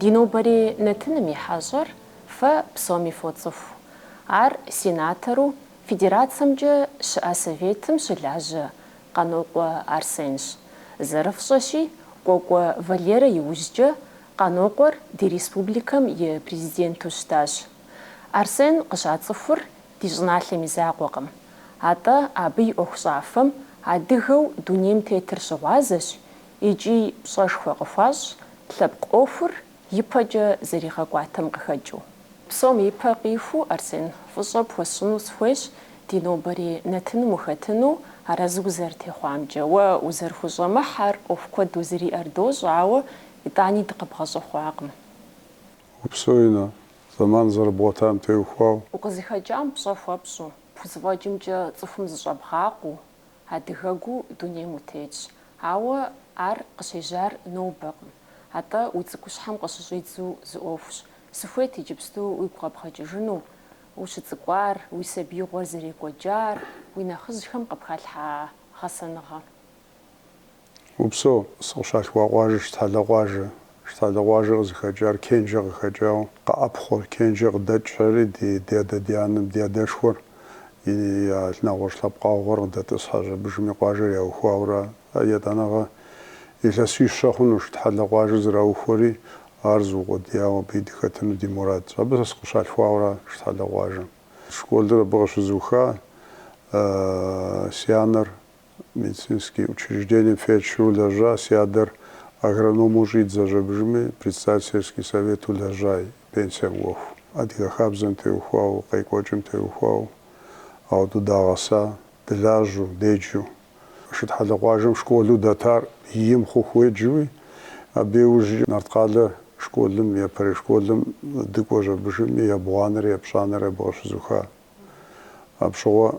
Ди нобэрей нэтыным и хьэщӏэр фэ псоми фоцӏыху. Ар сенатору Федерацэмкӏэ щыӏэ Советым щылажьэ Къанокъуэ Арсенщ. Зэрыфщӏэщи, Кӏуэкӏуэ Валерэ иужькӏэ Къанокъуэр ди республикэм и Президенту щытащ. Арсен къыщацӏыхур ди щӏыналъэм и закъуэкъым, атӏэ абы и ӏуэхущӏафэм адыгэу дунейм тетыр щыгъуазэщ, икӏи пщӏэшхуэ къыхуащӏ лъэпкъ ӏуэхур ипэкӏэ зэригъэкӏуатэм къыхэкӏыу. Псом и пэ къихуу, Арсен, фӏыщӏэ пхуэсщӏыну сыхуейщ ди нобэрей нэтыным ухэтыну, арэзы узэрытехъуамкӏэ. Уэ узэрыхущӏэмыхьэр ӏуэху куэд узыриӏэр дощӏ, ауэ итӏани дыкъыбгъэщӏэхъуакъым. Упсэу ину, зэман зэрыбгъуэтам теухуау. Укъызыхэкӏам пщӏэ хуэпщӏу, пхузэфӏэкӏымкӏэ цӏыхум зыщӏэбгъакъуу. Адыгэгу дунейм утетщ, ауэ ар къыщежьар нобэкъым. Атӏэ уи цӏыкӏущхьэм къыщыщӏидзу зы ӏуэхущ. Сыхуейт иджыпсту уигу къэбгъэкӏыжыну, ущыцӏыкӏуар, уи сабиигъуэр зэрекӏуэкӏар, уи нэхъыжьхэм къыпхалъхьа гъэсэныгъэ. Упсэу, сыкъыщалъхуа къуажэр Шытхьэлэ къуажэ. Шытхьэлэ къуажэр къызыхэкӏар Кенжэ къыхэкӏауэ, къэӏэпхъуэр, Кенжэ къыдэкӏхэри ди адэ-ди анэм ди адэшхуэри нэгъуэщӏ лъэпкъагъуэр къыдэтӏысхьэщ абыжыми къуажэр яухуауэра. Етӏанэгъэ илъэсищэ хъуну Шытхьэлэ къуажэр зэраухуэри, ар зыукъуэдияуэ абыи дыхэтыну ди мурадщ. Абы сэ сыкъыщалъхуауэра Шытхьэлэ къуажэм. Школыр абы къыщызуха си анэр медицинский учреждением фельдшеру лэжьа, си адэр агрономэу щӏидзэщ абыжыми, председатель сельский совету лэжьа, и пенсием кӏуэху. Адыгэ хабзэм теухуауэ, къекӏуэкӏым теухуауэ ауэдэу дагъэса, дылажьэу, деджэу. Шытхьэлэ къуажэм школу дэтар ийм хъуху уеджэуи, абы иужькӏэ Нарткъалэ школым, япэрей школым дыкӏуэщ абыжыми, ебгъуанэри епщӏанэри абы къыщызуха. Апщыгъуэ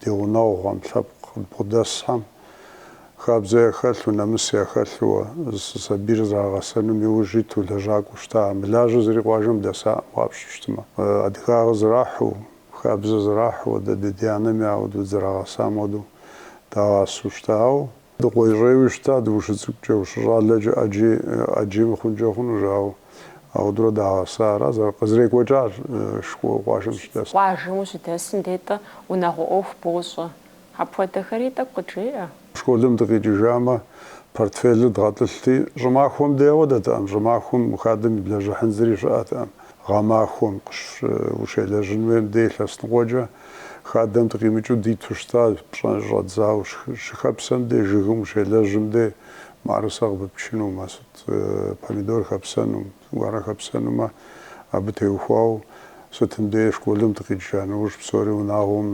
ди гъунэгъухэм, лъэпкъ къыдбгъэдэсхэм, хабзэ яхэлъу, нэмыс яхэлъууэ, сабийр зэрагъэсэнум иужь иту лэжьакӏуэу щыта, мылажьэ зыри къуажэм дэсаӏым къапщтэу щытмэ, адыгагъэ зрахьу, хабзэ зрахьу, дэ ди адэ-анэми ауэдэу дызэрагъэсам хуэдэу дагъасэу щыта, ауэ Дыкъуейщӏейуи щытат ущыцӏыкӏукӏэ, ущыщӏалэкӏэ ӏэджи ӏэджи мыхъункӏэ хъунущ, ауэ ауэдурэ дагъэса ара зэр, къызэрекӏуэкӏар къуажэм щыдэсым. Къуажэм ущыдэсым дей тӏэ унагъуэ ӏуэху бощӏэ. Апхуэдэхэри тӏэкӏу къыджеӏэ. Школым дыкъикӏыжамэ, портфелыр дгъэтӏылъти, щӏымахуэм дей ауэдэтэӏым, щӏымахуэм хадэм иблэжьыхьын зыри щыӏэтэӏым, гъэмахуэм, къыщ- ущелэжьын хуейм дей лъэсныкъуэкӏэ Хадэм дыкъимыкӏыу диту щыта, пщӏэ щӏэдзауэ, щыхэпсэм дей, жыгым ущелэжьым дей, мыӏэрысэ къыпыпчыну, мо сыт, помидор хэпсэну, гуарэ хэпсэнумэ, абы теухуауэ, сытым дей школым дыкъикӏа нэужь псори унагъуэм,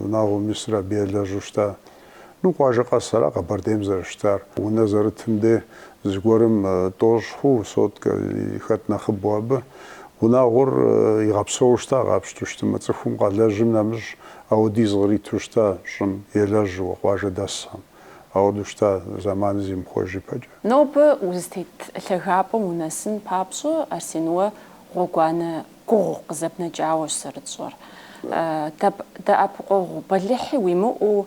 унагъуэм исыр абы елэжьу щыта. Ну, къуажэ къэс ара Къэбэрдейм зэрыщытар. Унэ зэрытым де зыгуэрым тӏощӏ хъу сотка хэт нэхъыбэу абы. Унагъуэр игъэпсэуу щыта къапщту щытымэ, цӏыхум къалэжьым нэмыщӏ ауэдиз къриту щыта щӏым, елэжьыуэ, къуажэ дэсхэм. Ауэду щыта зэманым зимыхъуэж ипэкӏэ. Нобэ узытет лъагапӏэм унэсын папщӏэ, Арсен, уэ гъуэгуанэ гугъу къызэпнэкӏауэщ зэрытщӏэр. Дэӏэпыкъуэгъу бэлыхьи уимыӏэу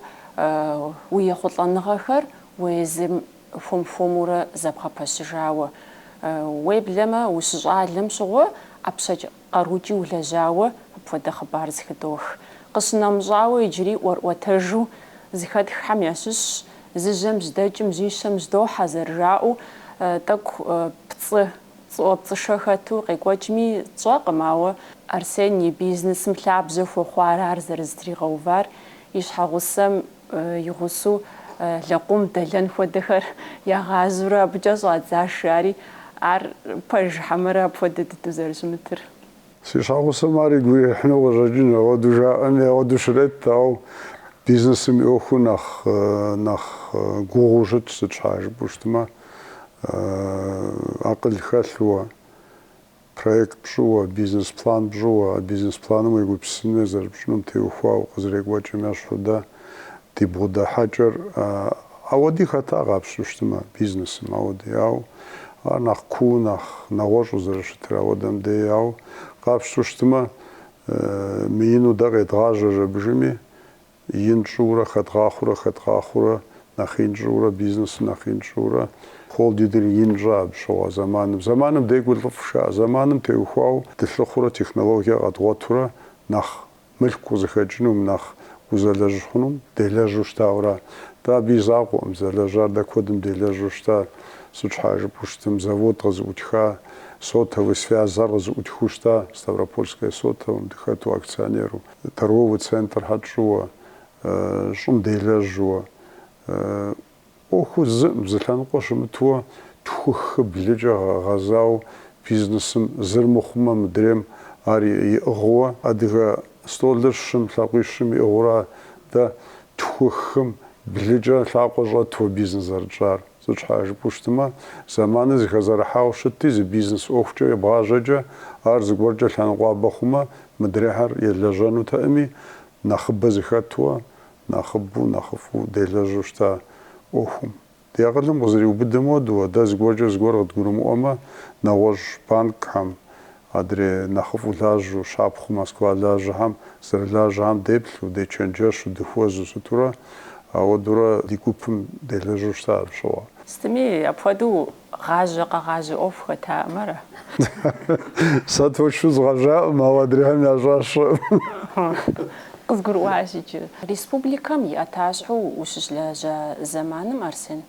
уи ехъулӏэныгъэхэр уэ езым хуэм-хуэмурэ зэбгъэпэщыжауэ, уеблэмэ ущыщӏалэм щыгъуэ ӏэпщэкӏ къарукӏи улэжьауэ апхуэдэ хъыбар зыхыдох. Къыщынэмыщӏауэ иджыри ӏуэрыӏуэтэжу зыхэтххэм ящыщщ, зы жьэм жьэдэкӏым жьищэм жьэдохьэ зэрыжаӏэу, тӏэкӏу пцӏы пцӏыӏуэпцӏышэ хэту къекӏуэкӏми тщӏэкъым, ауэ Арсен и бизнесым лъабжьэ хуэхъуар ар зэрызэтригъэувар, и щхьэгъусэм и гъусэу лэкъум дэлэн хуэдэхэр ягъажьэурэ абыкӏэ щӏадзащ жари, ар пэж хьэмэрэ апхуэдэ дыдэу зэрыщымытыр. Си щхьэгъусэм ар игу ирихьыну къыщӏэкӏын, ауэдэу жаӏэми ауэдэу щрет, ауэ бизнесым и ӏуэхур нэхъ нэхъ гугъуу щытщ, сыт щхьа жыпӏэу щытмэ, акъыл хэлъууэ, проект пщӏыуэ, бизнес план пщӏыуэ, а бизнес планым уегупсысыну е зэрыпщӏынум теухуауэ къызэрекӏуэкӏым ещхьу дэ ди бгъэдыхьэкӏэр. Ауэди хэта къапщту щытмэ, бизнесым ауэди, ауэ ар нэхъ куу, нэхъ нэгъуэщӏу зэрыщытыр ауэдэм дей, ауэ къапщту щытмэ, мыину дэ къедгъажьэж абы жыми, ин тщӏыурэ, хэдгъахъуурэ, хэдгъахъуурэ, нэхъ ин тщӏыурэ, бизнесыр нэхъ ин тщӏыурэ, холдингыр ин тщӏа абы щыгъуэ зэманым. Зэманым декӏур лӏыфӏщ жаӏэ, зэманым теухуауэ дылъыхъурэ, технологие къэдгъуэтурэ нэхъ мылъку къызыхэкӏынум, нэхъ узэлэжь хъунум делэжьу щытауэ ара. Дэ абы и закъуэкъым, зэлэжьар дэ куэдым делэжьу щыта. Сыт щхьа жыпӏэу щытым, завод къызыӏутха, сотовый связьхэр къызыӏутхыу щыта, Ставропольское сотовым дыхэту акционеру, торговый центрхэр тщӏыуэ, щӏым делэжьуэ, ӏуэху зыӏым зы лъэныкъуэ щымытыуэ тху-хы-блыкӏэ гъэзауэ бизнесым зыр мыхъумэ мыдрейм ар иӏыгъыуэ, адыгэ столыр щым лъакъуищым иӏыгъыурэ дэ тхухым блыкӏэ лъакъуэ щӏэтуэ бизнес зэрытщӏар. Сыт щхьэ жыпӏэу щытымэ, зэманыр зыхэзэрыхьауэ щытти, зы бизнес ӏуэхукӏэ ебгъажьэкӏэ ар зыгуэркӏэ лъэныкъуабэ хъумэ мыдрейхэр елэжьэнутэӏыми, нэхъыбэ зыхэтуэ нэхъыбэу, нэхъыфӏу делэжьу щыта ӏуэхум. Ди акъылым къызэриубыдэм хуэдэу, дэ зыгуэркӏэ зыгуэр къыдгурымыӏуэмэ, нэгъуэщӏ банкхэм, адрей нэхъыфӏу лажьэу, щапхъэу Москва лажьэхэм зэрылажьэхэм деплъу, дечэнджэщу, дыхуэзу сытурэ, ауэдурэ ди гупым делэжьу щыта абы щыгъуэ. Сытми, апхуэдэу Гъажьэ къэгъажьэ ӏуэху хэтаӏым ара? Сэ точно згъэжаӏым, ауэ адрейхэм ящӏар сщӏэӏым. Къызгурыӏуащ иджы. Республикэм и ӏэтащхьэу ущыщылэжьа зэманым, Арсен,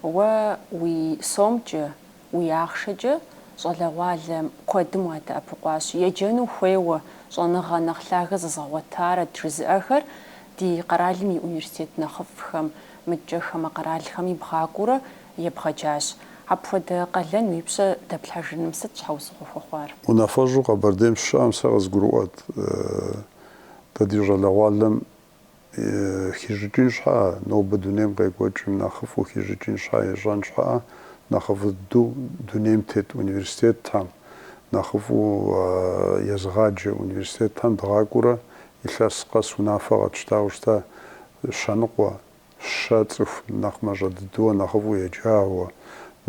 уэ уи сомкӏэ, уи ахъшэкӏэ щӏалэгъуалэ куэдым уадэӏэпыкъуащ. Еджэну хуейуэ, щӏэныгъэ нэхъ лъагэ зэзгъэгъуэтарэт жызыӏэхэр ди къэралым и университет нэхъыфӏхэм, мыдкӏэ хамэ къэралхэми бгъакӏуэурэ Ебгъэджащ. Апхуэдэ къалэн уи пщэ дэплъхьэжыным сыт щхьэусыгъуэ хуэхъуар? Унафэщӏу Къэбэрдейм сыщыщыӏэм сэ къызгурыӏуэт, дэ ди щӏалэгъуалэм хищӏыкӏын щхьэӏэ, нобэ дунейм къекӏуэкӏым нэхъыфӏу хищӏыкӏын щхьэӏэ, ищӏэн щхьэӏэ нэхъыфӏ дыдэу дунейм тет университетхэм, нэхъыфӏу езыгъаджэ университетхэм дгъакӏуэурэ илъэс къэс унафэ къэтщтауэ щыта, щэныкъуэ, щэ цӏыху нэхъ мащӏэ дыдэу, нэхъыфӏу еджауэ,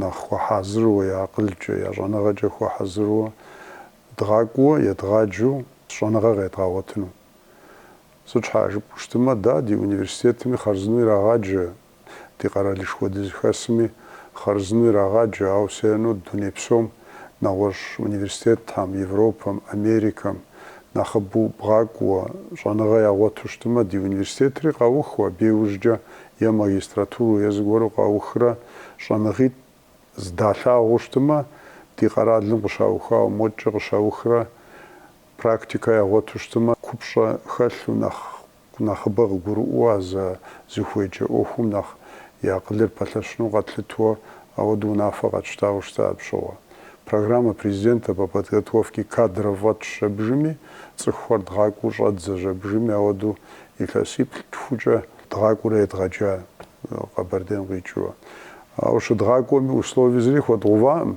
нэхъ хуэхьэзыру, я акъылкӏэ, я щӏэныгъэкӏэ хуэхьэзыру, дгъакӏуэу, едгъаджэу щӏэныгъэ къедгъэгъуэтыну. Сыт щхьа жыпӏэу щытымэ, дэ ди университетми хъарзынэу ирагъаджэ, ди къэралышхуэ дызыхэсми хъарзынэу ирагъаджэ, ауэ всё равно дуней псом, нэгъуэщӏ университетхэм, Европэм, Америкэм, нэхъыбэу бгъакӏуэ, щӏэныгъэ ягъуэту щытмэ, ди университетри къаухыу, абы иужькӏэ е магистратуру е зыгуэру къаухрэ щӏэныгъитӏ здалъагъуу щытмэ, ди къэралым къыщаухауэ модкӏэ къыщаухрэ практикэ ягъуэту щытмэ, купщӏэ хэлъу нэхъ Нэхъыбэ къыгурыӏуэу а зэ зыхуеджэ ӏуэхум нэхъ и акъылыр пэлъэщыну къэтлъытуэ, ауэду унафэ къэтщтауэ щыта апщыгъуэ. Программа президента по подготовке кадров фӏэтщ жэбжыми, цӏыхухэр дгъакӏуэу щӏэдзэ жэбжыми, ауэдэу илъэсиплӏ тхукӏэ дгъакӏуэурэ едгъэджа Къэбэрдейм къикӏыурэ. Ауэ щыдгъакӏуэми условие зыри хуэдгъуваӏым,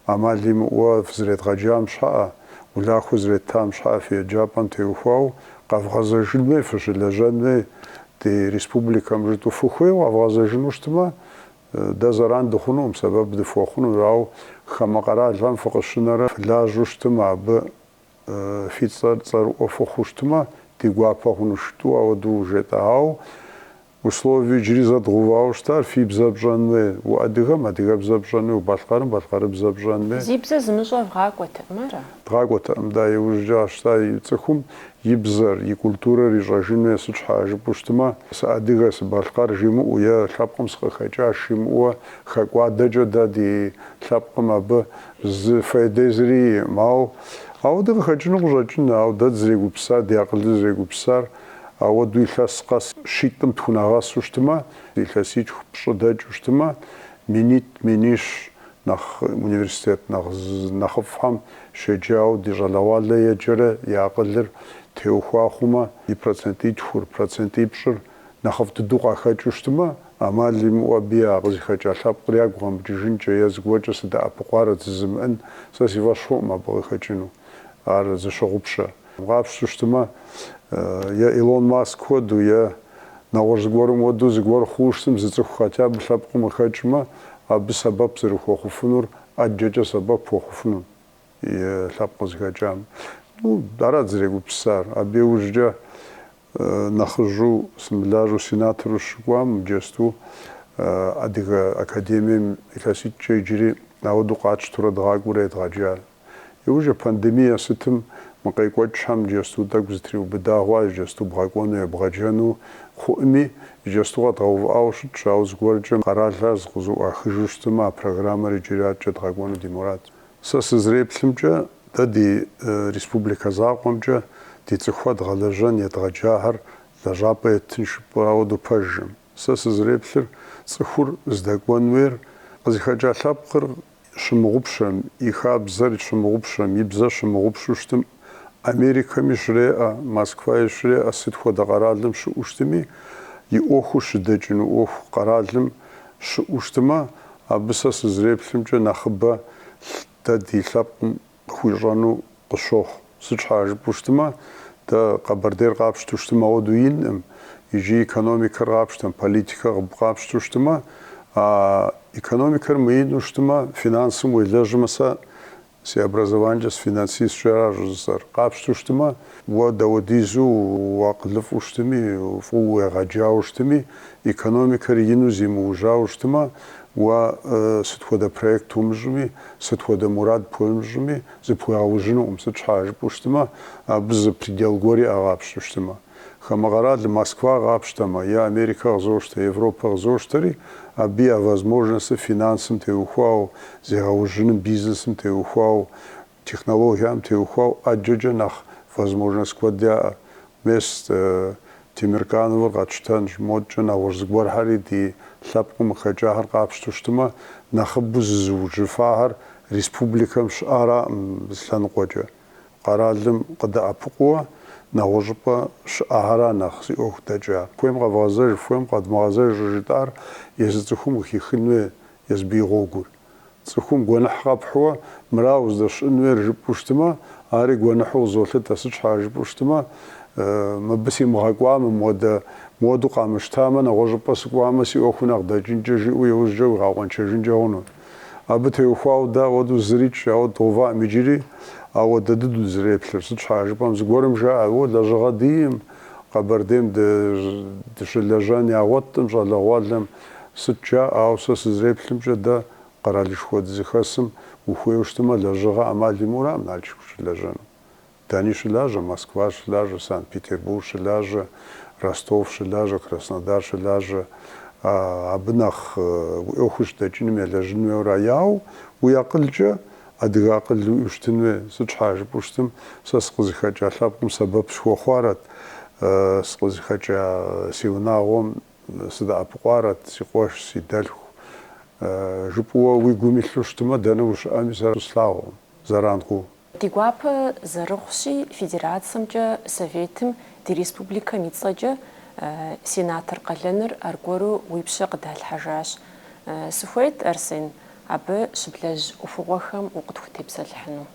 ӏэмал имыӏэуэ фызэредгъэджам щхьэӏэ, улахуэ зэреттам щхьэӏэ фи еджапӏэм теухуауэ къэвгъэзэжын уей, фыщылэжьэн уей ди республикэм жытӏу фыхуейуэ къэвгъэзэжыну щытмэ, дэ зэран дыхъунукъым, сэбэп дыфхуэхъунущ, ауэ хамэ къэралхэм фыкъыщынэрэ фылажьэу щытмэ, абы фи цӏэр цӏэрыӏуэ фыхъуу щытмэ, ди гуапэ хъунущ жытӏу ауэдэу жетӏэ. Ауэ Условие иджыри зэдгъэувауэ щытар, фи бзэ пщӏэн уей, уадыгэм адыгэбзэ пщӏэн уей, убалъкъэрым балъкъэрыбзэ пщӏэн уей. Зи бзэ зымыщӏэ вгъакӏуэтэкъым, ара? Дгъакӏуэтэкъым, да, иужькӏэ къащта и цӏыхум и бзэр, и культурэр ищӏэжын уей, сыт щхьа жыпӏэу щытмэ, сыадыгэ, сыбалъкъэр жимыӏэу е лъэпкъым сыкъыхэкӏащ жимыӏэуэ, хэкӏуадэкӏэ дэ ди лъэпкъым абы зы фейдэ зыри иӏым. Ауэ ауэдэ къыхэкӏыну къыщӏэкӏыну, ауэ дэ дызрегупсысар, ди акъылыр зэрегупсысар, Ауэдэу илъэс къэс щитӏым тхунэгъэсу щытымэ, илъэситху пщӏы дэкӏыу щытымэ, минитӏ, минищ нэхъ университет нэхъ нэхъыфӏхэм щеджауэ ди щӏалэгъуалэ еджэрэ и акъылыр теухуа хъумэ, и процентитхур, процентипщӏыр нэхъыфӏ дыдэу къахэкӏыу щытымэ, ӏэмал имыӏэу абы я къызыхэкӏа лъэпкъыр ягу къэмыкӏыжынкӏэ е зыгуэркӏэ сыдэӏэпыкъуарэ жызымыӏэн сэ си фӏэщ хъуӏым абы къыхэкӏыну. Ар зыщогъупщэ. Къапщтэу щытымэ, е Илон Маск хуэдэу, е нэгъуэщӏ зыгуэрым хуэдэу зыгуэр хъууэ щытым, зы цӏыху хотя бы лъэпкъым къыхэкӏмэ, абы сэбэп зэрыхуэхъуфынур ӏэджэкӏэ сэбэп хуэхъуфыну и лъэпкъ къызыхэкӏам. Ну, дэ арат дызрегупсысар. Абы иужькӏэ нэхъыжьу сымылажьэу сенатору щыкӏуам иджэсту Адыгэ академием илъэситӏкӏэ иджыри ауэдэу къатщтурэ дгъакӏуэурэ едгъэджар. И уже пандемие сытым мы къекӏуэкӏхэм иджэсту тӏэкӏу зэтриубыда хъуа иджэсту бгъэкӏуэну ебгъэджэну хъуӏыми, иджэсту къэдгъэувыӏауэ щытщ, ауэ зыгуэркӏэ къэралхэр зыкъызэӏуахыжу щытмэ, а программэр иджыри адэкӏэ дгъэкӏуэну ди мурад. Сэ сызреплъымкӏэ, дэ ди республикэ закъуэмкӏэ ди цӏыхухэр дгъэлэжьэн едгъэджахэр лэжьапӏэ еттын жыпӏэу ауэдэу пэжӏым. Сэ сызреплъыр, цӏыхур здэкӏуэн уейр къызыхэкӏа лъэпкъыр щымыгъупщэм, и хабзэр щымыгъупщэм, и бзэр щымыгъупщу щытым, Америкэми щреӏэ, Москваи щреӏэ, сыт хуэдэ къэралым щыӏэу щытыми, и ӏуэхур щыдэкӏыну ӏуэху къэралым щыӏэу щытымэ, абы сэ сызреплъымкӏэ нэхъыбэ дэ ди лъэпкъым Къыхуищӏэну къысщохъу. Сыт щхьэа жыпӏэу щытмэ, дэ Къэбэрдейр къапщтэу щытым ауэдэу инкъым, иджы экономикэр къапщтэм, политикэ къапщтэу щытмэ, а экономикэр мыинэу щытмэ, финансым уелэжьмэ, сэ си образованиемкӏэ сыфинансистщ ара щӏыжысӏэр, къапщтэу щытмэ, уэ дауэдизу уакъылыфӏу щытми, фӏыуэ уегъэджауэ щытми, экономикэр ину зимыужьауэ щытмэ, Уэ сыт хуэдэ проект умыщӏми, сыт хуэдэ мурад пхуэмыщӏми, зыпхуегъэужьынукъым, сыт щхьа жыпӏэу щытмэ, абы зы предел гуэр иӏэ къапщтэу щытмэ. Хамэ къэралым Москва къапщтэмэ, е Америкэ къызощтэ, Европэ къызощтэри, абы я возможностыр финансым теухуауэ, зегъэужьыным, бизнесым теухуауэ, Технологиям теухуауэ ӏэджэкӏэ нэхъ возможность куэд яӏэ. Мес, Темиркановыр къэтщтэнщ, модкӏэ нэгъуэщӏ зыгуэрхэри ди лъэпкъым къыхэкӏахэр къапщту щытмэ, нэхъыбэу зызыужьыфахэр республикэм щыӏэраӏым зы лъэныкъуэкӏэ. Къэралым къыдэӏэпыкъууэ нэгъуэщӏыпӏэ щыӏэхэра нэхъ зи ӏуэху дэкӏа. Хуейм къэвгъэзэж, хуейм къэдмыгъэзэж щӏыжытӏар езы цӏыхум къыхихын хуей езы абы и гъуэгур. Цӏыхум гуэныхь къэпхьууэ, Мыра уздэщыӏэн хуейр жыпӏэу щытмэ, ари гуэныхьу къызолъытэ, Сыт щхьа жыпӏэу щытмэ, Мыбы симыгъэкӏуамэ, мыуэду къамыщтамэ, нэгъуэщӏыпӏэ сыкӏуамэ, си ӏуэхур нэхъ дэкӏынкӏэ, жиӏэу иужькӏэ уигъэкъуэншэжынкӏэ хъуну. Абы теухуауэ дэ ауэдэу зырикӏ, ауэ дгъэуваӏым иджыри, ауэ дэ дыдэу дызэреплъыр. Сыт щхьа жыпӏэм, зыгуэрым жаӏэ, О, лэжьыгъэ диӏэӏым, Къэбэрдейм дыщылэжьэн ягъуэтӏым щӏалэгъуалэм Сыт жаӏэ, ауэ сэ сызэреплъымкӏэ, дэ къэралышхуэ дызыхэсым ухуейуэ щытымэ, лэжьыгъэ ӏэмал имыӏэураӏым Налшык ущылэжьэну. Дэни щылажьэ, Москва щылажьэ, Санкт-Петербург щылажьэ, Ростов щылажьэ, Краснодар щылажьэ. Абы нэхъ уи ӏуэхур щыдэкӏыным елэжьын хуейуэра. Ауэ уи акъылкӏэ адыгэ акъыл уиӏэу щытын хуей. Сыт щхьа жыпӏэу щытым, сэ сыкъызыхэкӏа лъэпкъым сэбэп схуэхъуарэт, сыкъызыхэкӏа си унагъуэм Сыдэӏэпыкъуарэт, си къуэш, си дэлъху, жыпӏэуэ уи гум илъу щытмэ, дэнэ ущыӏэми сэ слъагъуӏым зэран хъуу. Ди гуапэ зэрыхъущи, Федерацэмкӏэ Советым, ди республикэм и цӏэкӏэ сенатор къалэныр аргуэру уи пщэ къыдалъхьэжащ. Сыхуейт, Арсен, абы щыблэжь ӏуэхугъуэхэм укъытхутепсэлъыхьыну.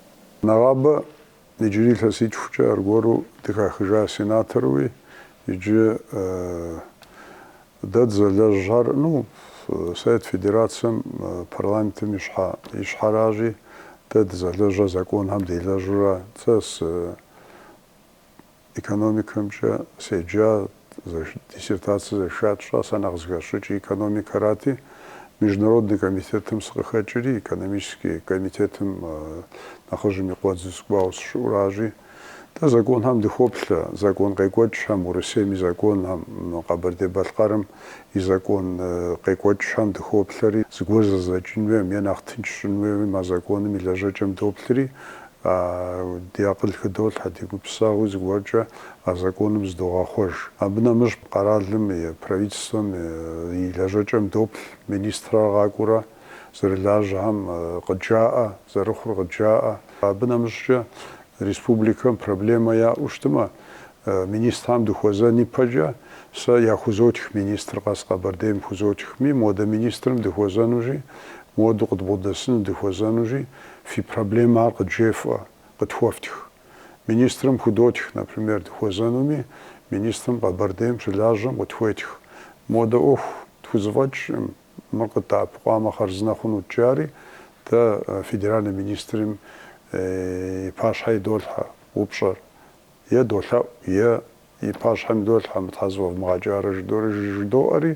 Нэгъабэ Иджыри илъэситхукӏэ аргуэру дыхахыжа сенаторуи иджы дэ дызэлэжьар, ну, Совет Федерацэм, парламентым и щхьэ, и щхьэращи, дэ дызэлэжьа законхэм делэжьурэ, сэ сы, Экономикэмкӏэ седжа, диссертацэ защищать сщӏа, сэ нэхъ зыхэсщӏыкӏыр экономикэрати, Международный комитетым сыкъыхэкӏри, экономический комитетым нэхъыжьым и къуэдзу сыкӏуауэ сыщыӏуращи, дэ законхэм дыхоплъэ, закон къекӏуэкӏхэм, Урысейм и законхэм, Къэбэрдей-Балъкъэрым и закон къекӏуэкӏхэм дыхоплъэри, зыгуэр зэзэкӏын хуейм е нэхъ тынш щӏын хуеймэ, законым и лэжьэкӏэм доплъри, Ди акъыл хыдолъхьэ, ди гупсысэгъуи зыгуэркӏэ а законым зыдогъэхъуэж. Абы нэмыщӏ къэралым и Правительствэм и лэжьэкӏэм доплъ министрэр къакӏуэурэ зэрылажьэхэм къыджаӏэ, зэрыхъур къыджаӏэ. Абы нэмыщӏкӏэ республикэм проблемэ яӏэу щытмэ, Министрам дыхуэзэн ипэкӏэ сэ яхузотх министр къэс Къэбэрдейм хузотхми, модэ министрым дыхуэзэнущи, моду къыдбгъудэсыну дыхуэзэнущи, фи проблемэ ар къыджефӏэ, къытхуэфтх. Министрым худотх, например, дыхуэзэнуми, министрым Къэбэрдейм щылажьэм къытхуетх. Модэ ӏуэху тхузэфӏэкӏкъым, мыр къыддэӏэпыкъуамэ хъарзынэ хъунут жари, дэ федеральный министрым и пащхьэ идолъхьэ упщӏэр, Е долъэӏу, е и пащхьэм идолъхьэ, мыр щхьэ зэфӏэвмыгъэкӏарэ жыдори жыдоӏэри,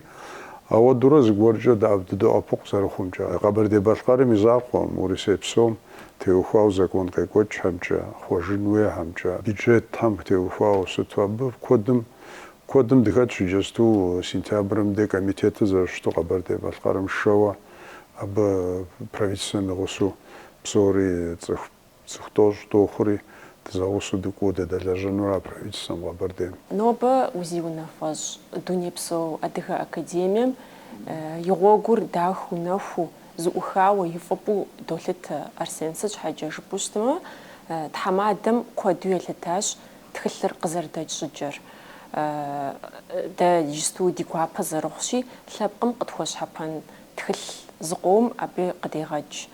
ауэдурэ зыгуэркӏэ дэӏэп дыдоӏэпыкъу зэрыхъумкӏэ. Къэбэрдей-Балъкъэрым и закъуэм, Урысей псом теухуауэ закон къекӏуэкӏхэмкӏэ, хъуэжын хуейхэмкӏэ, бюджетхэм теухуауэ сыту абы куэдым куэдым дыхэтщ иджысту сентябрым дей комитетыр зэрыщыту Къэбэрдей-Балъкъэрым шэуэ абы правительствэм и гъусу псори цӏыху Цӏыху тӏощӏ дохъури, дызэгъусэу дыкӏуэу дыдэлэжьэнура правительствэм Къэбэрдейм. Нобэ узиунафэщӏ Дунейпсо Адыгэ Академием и гъуэгур дахэу нэхуу, зыӏухауэ и фӏыпӏэу долъытэ Арсен. Сыт щхьэкӏэ жыпӏэу щытмэ, тхьэмадэм куэду елъытащ тхылъыр къызэрыдэкӏ щӏыкӏэр. Дэ иджысту ди гуапэ зэрыхъущи, лъэпкъым къытхуэщхьэпэн Тхылъ зыкъом абы къыдегъэкӏ.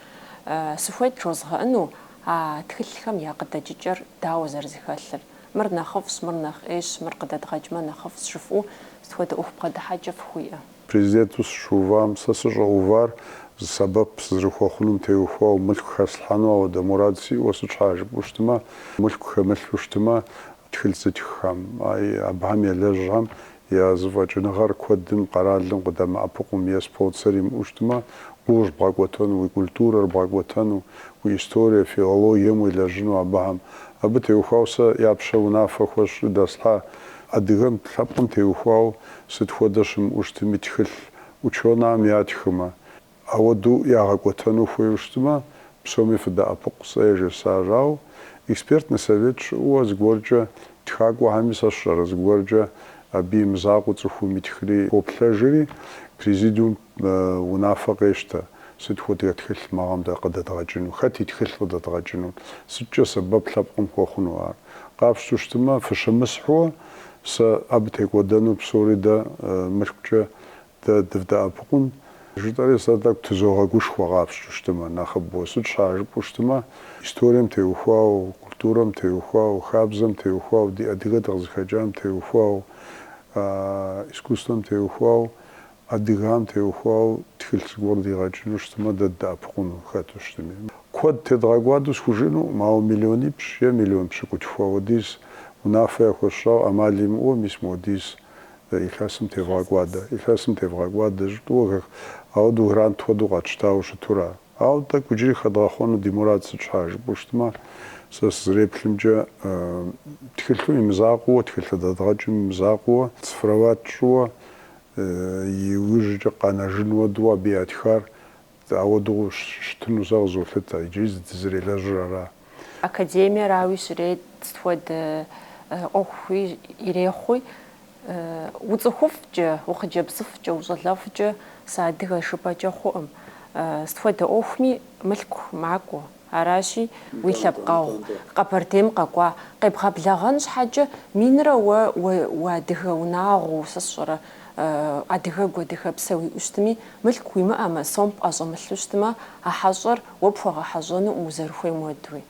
Сыхуейт жозгъэӏэну а тхылъхэм я къыдэкӏыкӏэр дауэ зэрызэхэлъыр. Мыр нэхъыфӏщ, мыр нэхъ ӏейщ, мыр къыдэдгъэкӏмэ нэхъыфӏщ жыфӏэу сыт хуэдэ ӏуэху бгъэдыхьэкӏэ фыхуиӏэ? Президенту сыщыувам сэ сыщӏэувар зы сэбэп сызэрыхуэхъунум теухуауэ, мылъку хэслъхьэну ауэдэ мурад сиӏэу сыт щхьа жыпӏэу щытмэ, мылъку хэмылъу щытмэ, тхылъ зытххэм, абыхэм елэжьхэм Я зэфӏэкӏыныгъэр куэдым къэралым къыдэмыӏэпыкъум е спонсор имыӏэу щытмэ, гугъущ бгъэкӏуэтэну уи культурэр, бгъэкӏуэтэну уи историе, филологием уелэжьыну абыхэм. Абы теухуау сэ я пщэ унафэ хуэсщӏри дэслъхьа адыгэм лъэпкъым теухуау сыт хуэдэ щымыӏэу щытми тхылъ ученахэм ятхымэ. Ауэдэу ягъэкӏуэтэну хуейуэ щытмэ, псоми фыдэӏэпыкъу, сэ яжесӏащ. Ауэ экспертный совет щыӏэуэ зыгуэркӏэ тхакӏуэхэми сэ сщӏэрэ, зыгуэркӏэ абы и мызакъуэ цӏыхум итхри хоплъэжри, президиум унафэ къещтэ, сыт хуэдэ тхылъ мы гъэм дэ къыдэдгъэкӏыну, хэт и тхылъ къыдэдгъэкӏыну, сыткӏэ сэбэп лъэпкъым хуэхъуну ар. Къапщтэу щытмэ, фыщымысхьуэ, сэ абы текӏуэдэну псори дэ мылъкукӏэ Дэ дывдэӏэпыкъун, жытӏэри сэ тӏэкӏу тызогъэгушхуэ къапщту щытымэ, нэхъыбэу. Сыт щхьа жыпӏэу щытымэ, историем теухуау, культурэм теухуау, хабзэм теухуау, ди адыгэ дыкъызыхэкӏам теухуау, искусствэм теухуау, адыгам теухуау тхылъ зыгуэр дигъэкӏыну щытымэ, дэ ддэӏэпыкъуну хэту щытми. Куэд тедгъэкӏуадэу схужынукъым, ауэ миллионипщӏ е миллион пщыкӏутху хуэдиз унафэ яхуэсщӏауэ ӏэмал имыӏэу мис модиз Илъэсым тевгъэкӏуадэ. Илъэсым тевгъэкӏуадэ, жытӏэу. Ауэдэу грант хуэдэу къэтщтауэ щытура. Ауэ тӏэкӏу иджыри хэдгъэхъуэну ди мурад сыт щхьа жыпӏэу щытмэ, сэ сызэреплъымкӏэ, тхылъым и мызакъуэуэ, тхылъ дэдгъэкӏым и мызакъуэуэ, цифровать тщӏыуэ, иужькӏэ къэнэжын уэдэу абы ятхар Ауэдэу щытыну сэ къызолъытэ, иджыри зы дызэрелэжьыр ара. Академиерауи щрет, сыт хуэдэ ӏуэхуи ирехъуи, уцӏыхуфӏкӏэ, ухъыджэбзыфӏкӏэ, ущӏалэфӏкӏэ сыадыгэ жыпӏэкӏэ хъуӏым. Сыт хуэдэ ӏуэхуми мылъку макӏуэ. Аращи, уи лъэпкъэгъу Къэбэрдейм къэкӏуа къебгъэблэгъэн щхьэкӏэ минрэ уэ уадыгэ унагъуэу, сэ сщӏэрэ, адыгэгу, адыгэпсэ уиӏэу щытми, мылъку уимыӏэмэ, сом пӏэщӏэмылъу щытмэ, а хьэщӏэр уэ пхуэгъэхьэщӏэнукъым узэрыхуейм уэдуи.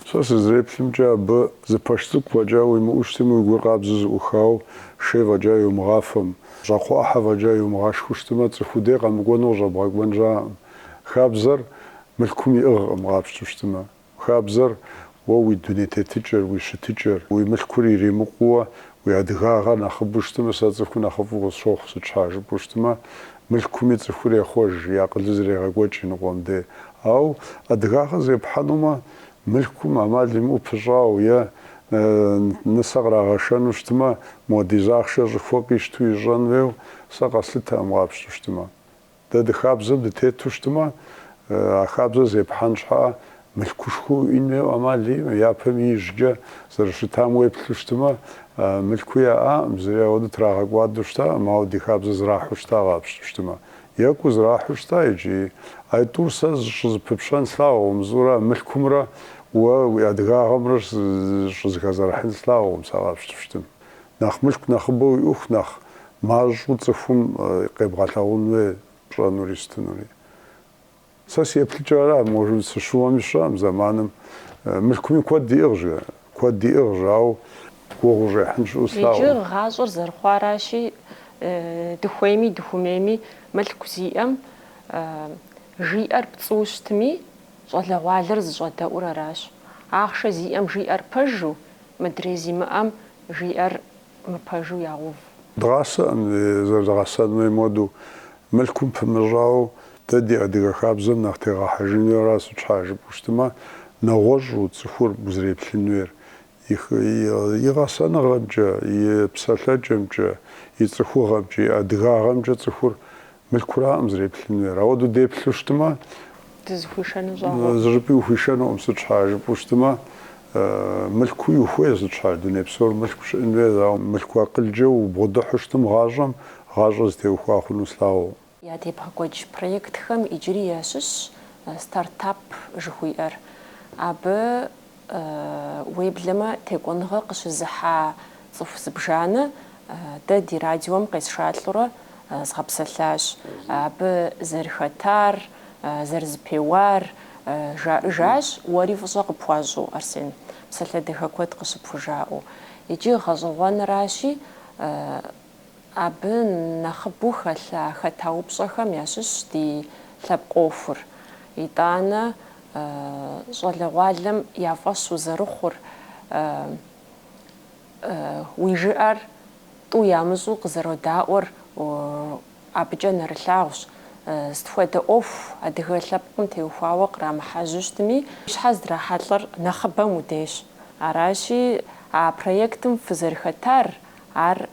Сэ сызэреплъымкӏэ, абы зы пэш цӏыкӏу фӏэкӏа уимыӏэу щытми, уи гур къабзэу зыӏухауэ, шей фӏэкӏа йумыгъафэм, щӏакхъуэ ӏыхьэ фӏэкӏа йумыгъашхэу щытмэ, цӏыху уи дей къэмыкӏуэну къыщӏэбгъэкӏуэн щыӏэкъым. Хабзэр Мылъкум иӏыгъкъым къапщтэу щытымэ. Хабзэр, уэ уи дуней тетыкӏэр, уи щытыкӏэр, уи мылъкур иримыкъууэ, уи адыгагъэр нэхъыбэу щытымэ, сэ цӏыхуу нэхъыфӏу къысщохъу, сыт щхьа жыпӏэу щытымэ, мылъкуми цӏыхур ехъуэж, и акъылыр зэрегъэкӏуэкӏ иныкъуэм де. Ауэ адыгагъэр зепхьэнумэ, мылъкум ӏэмал имыӏэу пыщӏауэ е нысэ кърагъэшэну щытымэ, модиз ахъшэ щӏыхуэ къищту ищӏэн хуейуэ, сэ къэслъытэкъым къапщтэу щытымэ. Дэ ди хабзэм дытету щытымэ, а хабзэр зепхьэн щхьа мылъкушхуэ уиӏэн хуейуэ амал иӏэмэ, япэм ижькӏэ зэрыщытам уеплъу щытымэ, мылъкуи яӏаӏым, зыри ауэдэ трагъэкӏуадэу щытаӏым, ауэ ди хабзэр зрахьу щыта къапщту щытымэ. Екӏуу зрахьу щыта икӏи. Айтӏур сэ щӏызэпыпщӏэн слъагъукъым, мызыӏуэра мылъкумрэ уэ уи адыгагъэмрэ щӏызэхэзэрыхьын слъагъукъым сэ къапщту щытым. Нэхъ мылъку нэхъыбэу уиӏэху нэхъ мащӏэу цӏыхум къебгъэлъагъун хуей пщӏэнури сытынури. Сэ си еплъыкӏэр ара, может сыщыуэми сщӏэӏым, зэманым мылъкуми куэд иӏыгъщ, куэд иӏыгъщ, ауэ гугъу ущӏехьын щыӏэу слъагъу. Иджы гъащӏэр зэрыхъуаращи, дыхуейми дыхумейми мылъку зиӏэм жиӏэр пцӏыуэ щытми, щӏалэгъуалэр зыщӏэдэӏур аращ. Ахъшэ зиӏэм жиӏэр пэжу, Мыдрей зимыӏэм жиӏэр мыпэжу ягъэув. Дгъасэӏым зэрыдгъэсэн хуейм хуэдэу, мылъкум пымыщӏауэ, дэ ди адыгэ хабзэм нэхъ тегъэхьэжын хуейра сыт щхьа жыпӏэу щытмэ, нэгъуэщӏу цӏыхур узреплъын хуейр, и гъэсэныгъэмкӏэ, и псэлъэкӏэмкӏэ, и цӏыхугъэмкӏэ, и адыгагъэмкӏэ цӏыхур Мылъкураӏым узреплъын хуейр. Ауэдэу деплъу щытмэ, Дызыхуишэну щӏагъуэкъым. зыщӏыпӏи ухуишэнукъым, сыт щхьа жыпӏэу щытмэ, мылъкуи ухуей сыт щхьа, дуней псор мылъку щыӏэн хуейр, ауэ мылъку акъылкӏэ убгъэдыхьу щытым гъащӏэм, гъащӏэ зытеухуа хъуну слъагъукъым. Атӏэ ебгъэкӏуэкӏ проектхэм иджыри ящыщщ Стартап жыхуиӏэр. Абы Уеблэмэ, текӏуэныгъэ къыщызыхьа цӏыху зыбжанэ дэ ди радиом къесшалӏэурэ згъэпсэлъащ. Абы зэрыхэтар, зэрызэпеуар жаӏыжащ, уэри фӏыщӏэ къыпхуащӏу, Арсен, псалъэ дахэ куэд къыщыпхужаӏэу. Иджы гъэщӏэгъуэныращи, Абы нэхъыбэу хэлъа хэта упщӏэхэм ящыщщ ди лъэпкъ ӏуэхур. Итӏанэ щӏалэгъуалэм я фӏэщ узэрыхъур, уи жыӏэр тӏу ямыщӏу къызэродаӏуэр абыкӏэ нэрылъагъущ. Сыт хуэдэ ӏуэху адыгэ лъэпкъым теухуауэ кърамыхьэжьу щытми, щхьэ здрахьэлӏэр нэхъыбэм уи дейщ. Аращи, а проектым фызэрыхэтар Ар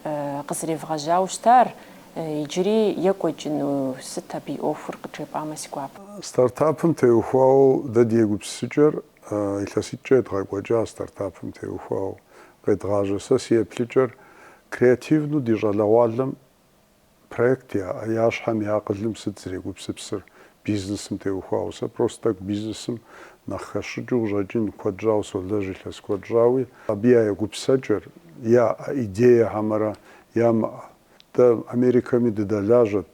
къызэревгъэжьауэ щытар, иджыри екӏуэкӏыну, сыт абы и ӏуэхур къыджепӏамэ си гуапэ. Стартапым теухуауэ дэ ди егупсысыкӏэр илъэситӏкӏэ едгъэкӏуэкӏа, стартапым теухуауэ къедгъажьэ сэ си еплъыкӏэр креативну ди щӏалэгъуалэм Проект яӏэ, я щхьэм я акъылым сыт зрегупсыпсыр бизнесым теухуауэ? Сэ просто тӏэкӏу бизнесым нэхъ хэсщӏыкӏыу къыщӏэкӏын куэд щӏауэ солэжь илъэс куэд щӏауи. Абы я егупсэкӏэр, яӏэ идея хьэмэрэ ямыӏэ. Дэ Америкэми дыдэлажьэт,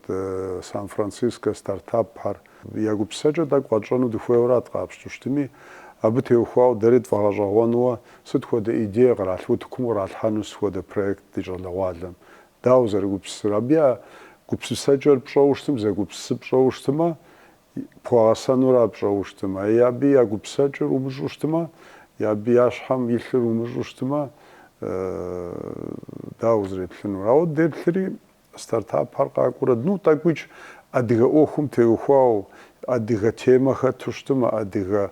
Сан-Францискэ стартапхэр. Я гупсэкӏэр тӏэкӏу къэтщӏэну дыхуейуэрат къапщту щытми, абы теухуауэ дэри тфӏэгъэщӏэгъуэнуэ сыт хуэдэ идея къралъ утыкум къралъхьэну сыт хуэдэ проект ди щӏалэгъуалэм Дауэ зэрыгупсысыр? Абы я гупсысэкӏэр пщӏэу щытым, зэгупсысыр пщӏэу щытымэ, пхуэгъэсэнура пщӏэу щытымэ. Абы я гупсэкӏэр умыщӏу щытымэ, абы я щхьэм илъыр умыщӏу щытымэ, дауэ узреплъынур? Ауэ деплъри, стартапхэр къакӏуэрэ, ну, тӏэкӏуикӏ адыгэ ӏуэхум теухуау Адыгэ темэ хэту щытымэ, адыгэ,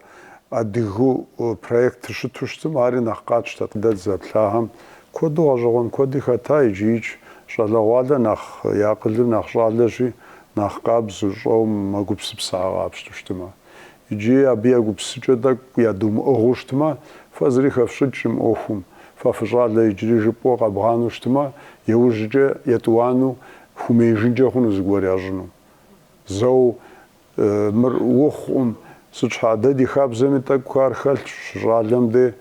адыгу проектыр щыту щытым, ари нэхъ къатщтэт. Дэ дызэплъагъэм куэду гъэщӏэгъуэн куэди хэта, иджиикӏ щӏалэгъуалэ нэхъ, и акъылыр нэхъ щӏалэщи, нэхъ къабзэу, щӏэу мэгупсысэ къапщту щытымэ. Иджыи абы я гупсысэкӏэ тӏэкӏу ядумыӏыгъыу щытымэ, фэ зыри хэфщӏыкӏкъым ӏуэхум, фэ фыщӏалэ иджыри жыпӏэу къэбгъанэу щытымэ, иужькӏэ етӏуанэу, хумеижынкӏэ хъуну зыгуэр ящӏыну. Зэу мыр хъуӏым. Сыт щхьа, дэ ди хабзэми тӏэкӏу ар хэлъщ, щӏалэм де.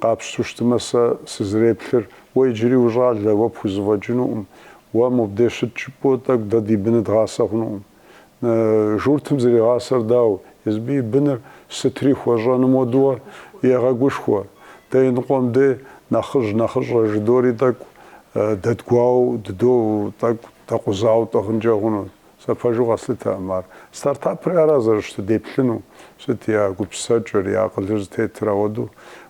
Къапщту щытымэ сэ сызэреплъыр, уэ иджыри ущӏалэ, уэ пхузэфӏэкӏынукъым. Уэ мобдеж щыт жыпӏэу тӏэкӏу дэ ди быныр дгъасэ хъунукъым. Журтым зригъасэр дауэ, езым и быныр сытри хуэщӏэным уэдууэ егъэгушхуэ. Дэ и ныкъуэм де нэхъыжь нэхъыщӏэ жыдори тӏэкӏу дэдгуауэу дыдэу, тӏэкӏу дэкъузауэ тӏыгъынкӏэ хъунут. Сэ пэжу къэслъытэкъым ар. Стартапри ара зэрыщытыр деплъыну, сыт я гупсысэкӏэр, я акъылыр зытетыр ауэду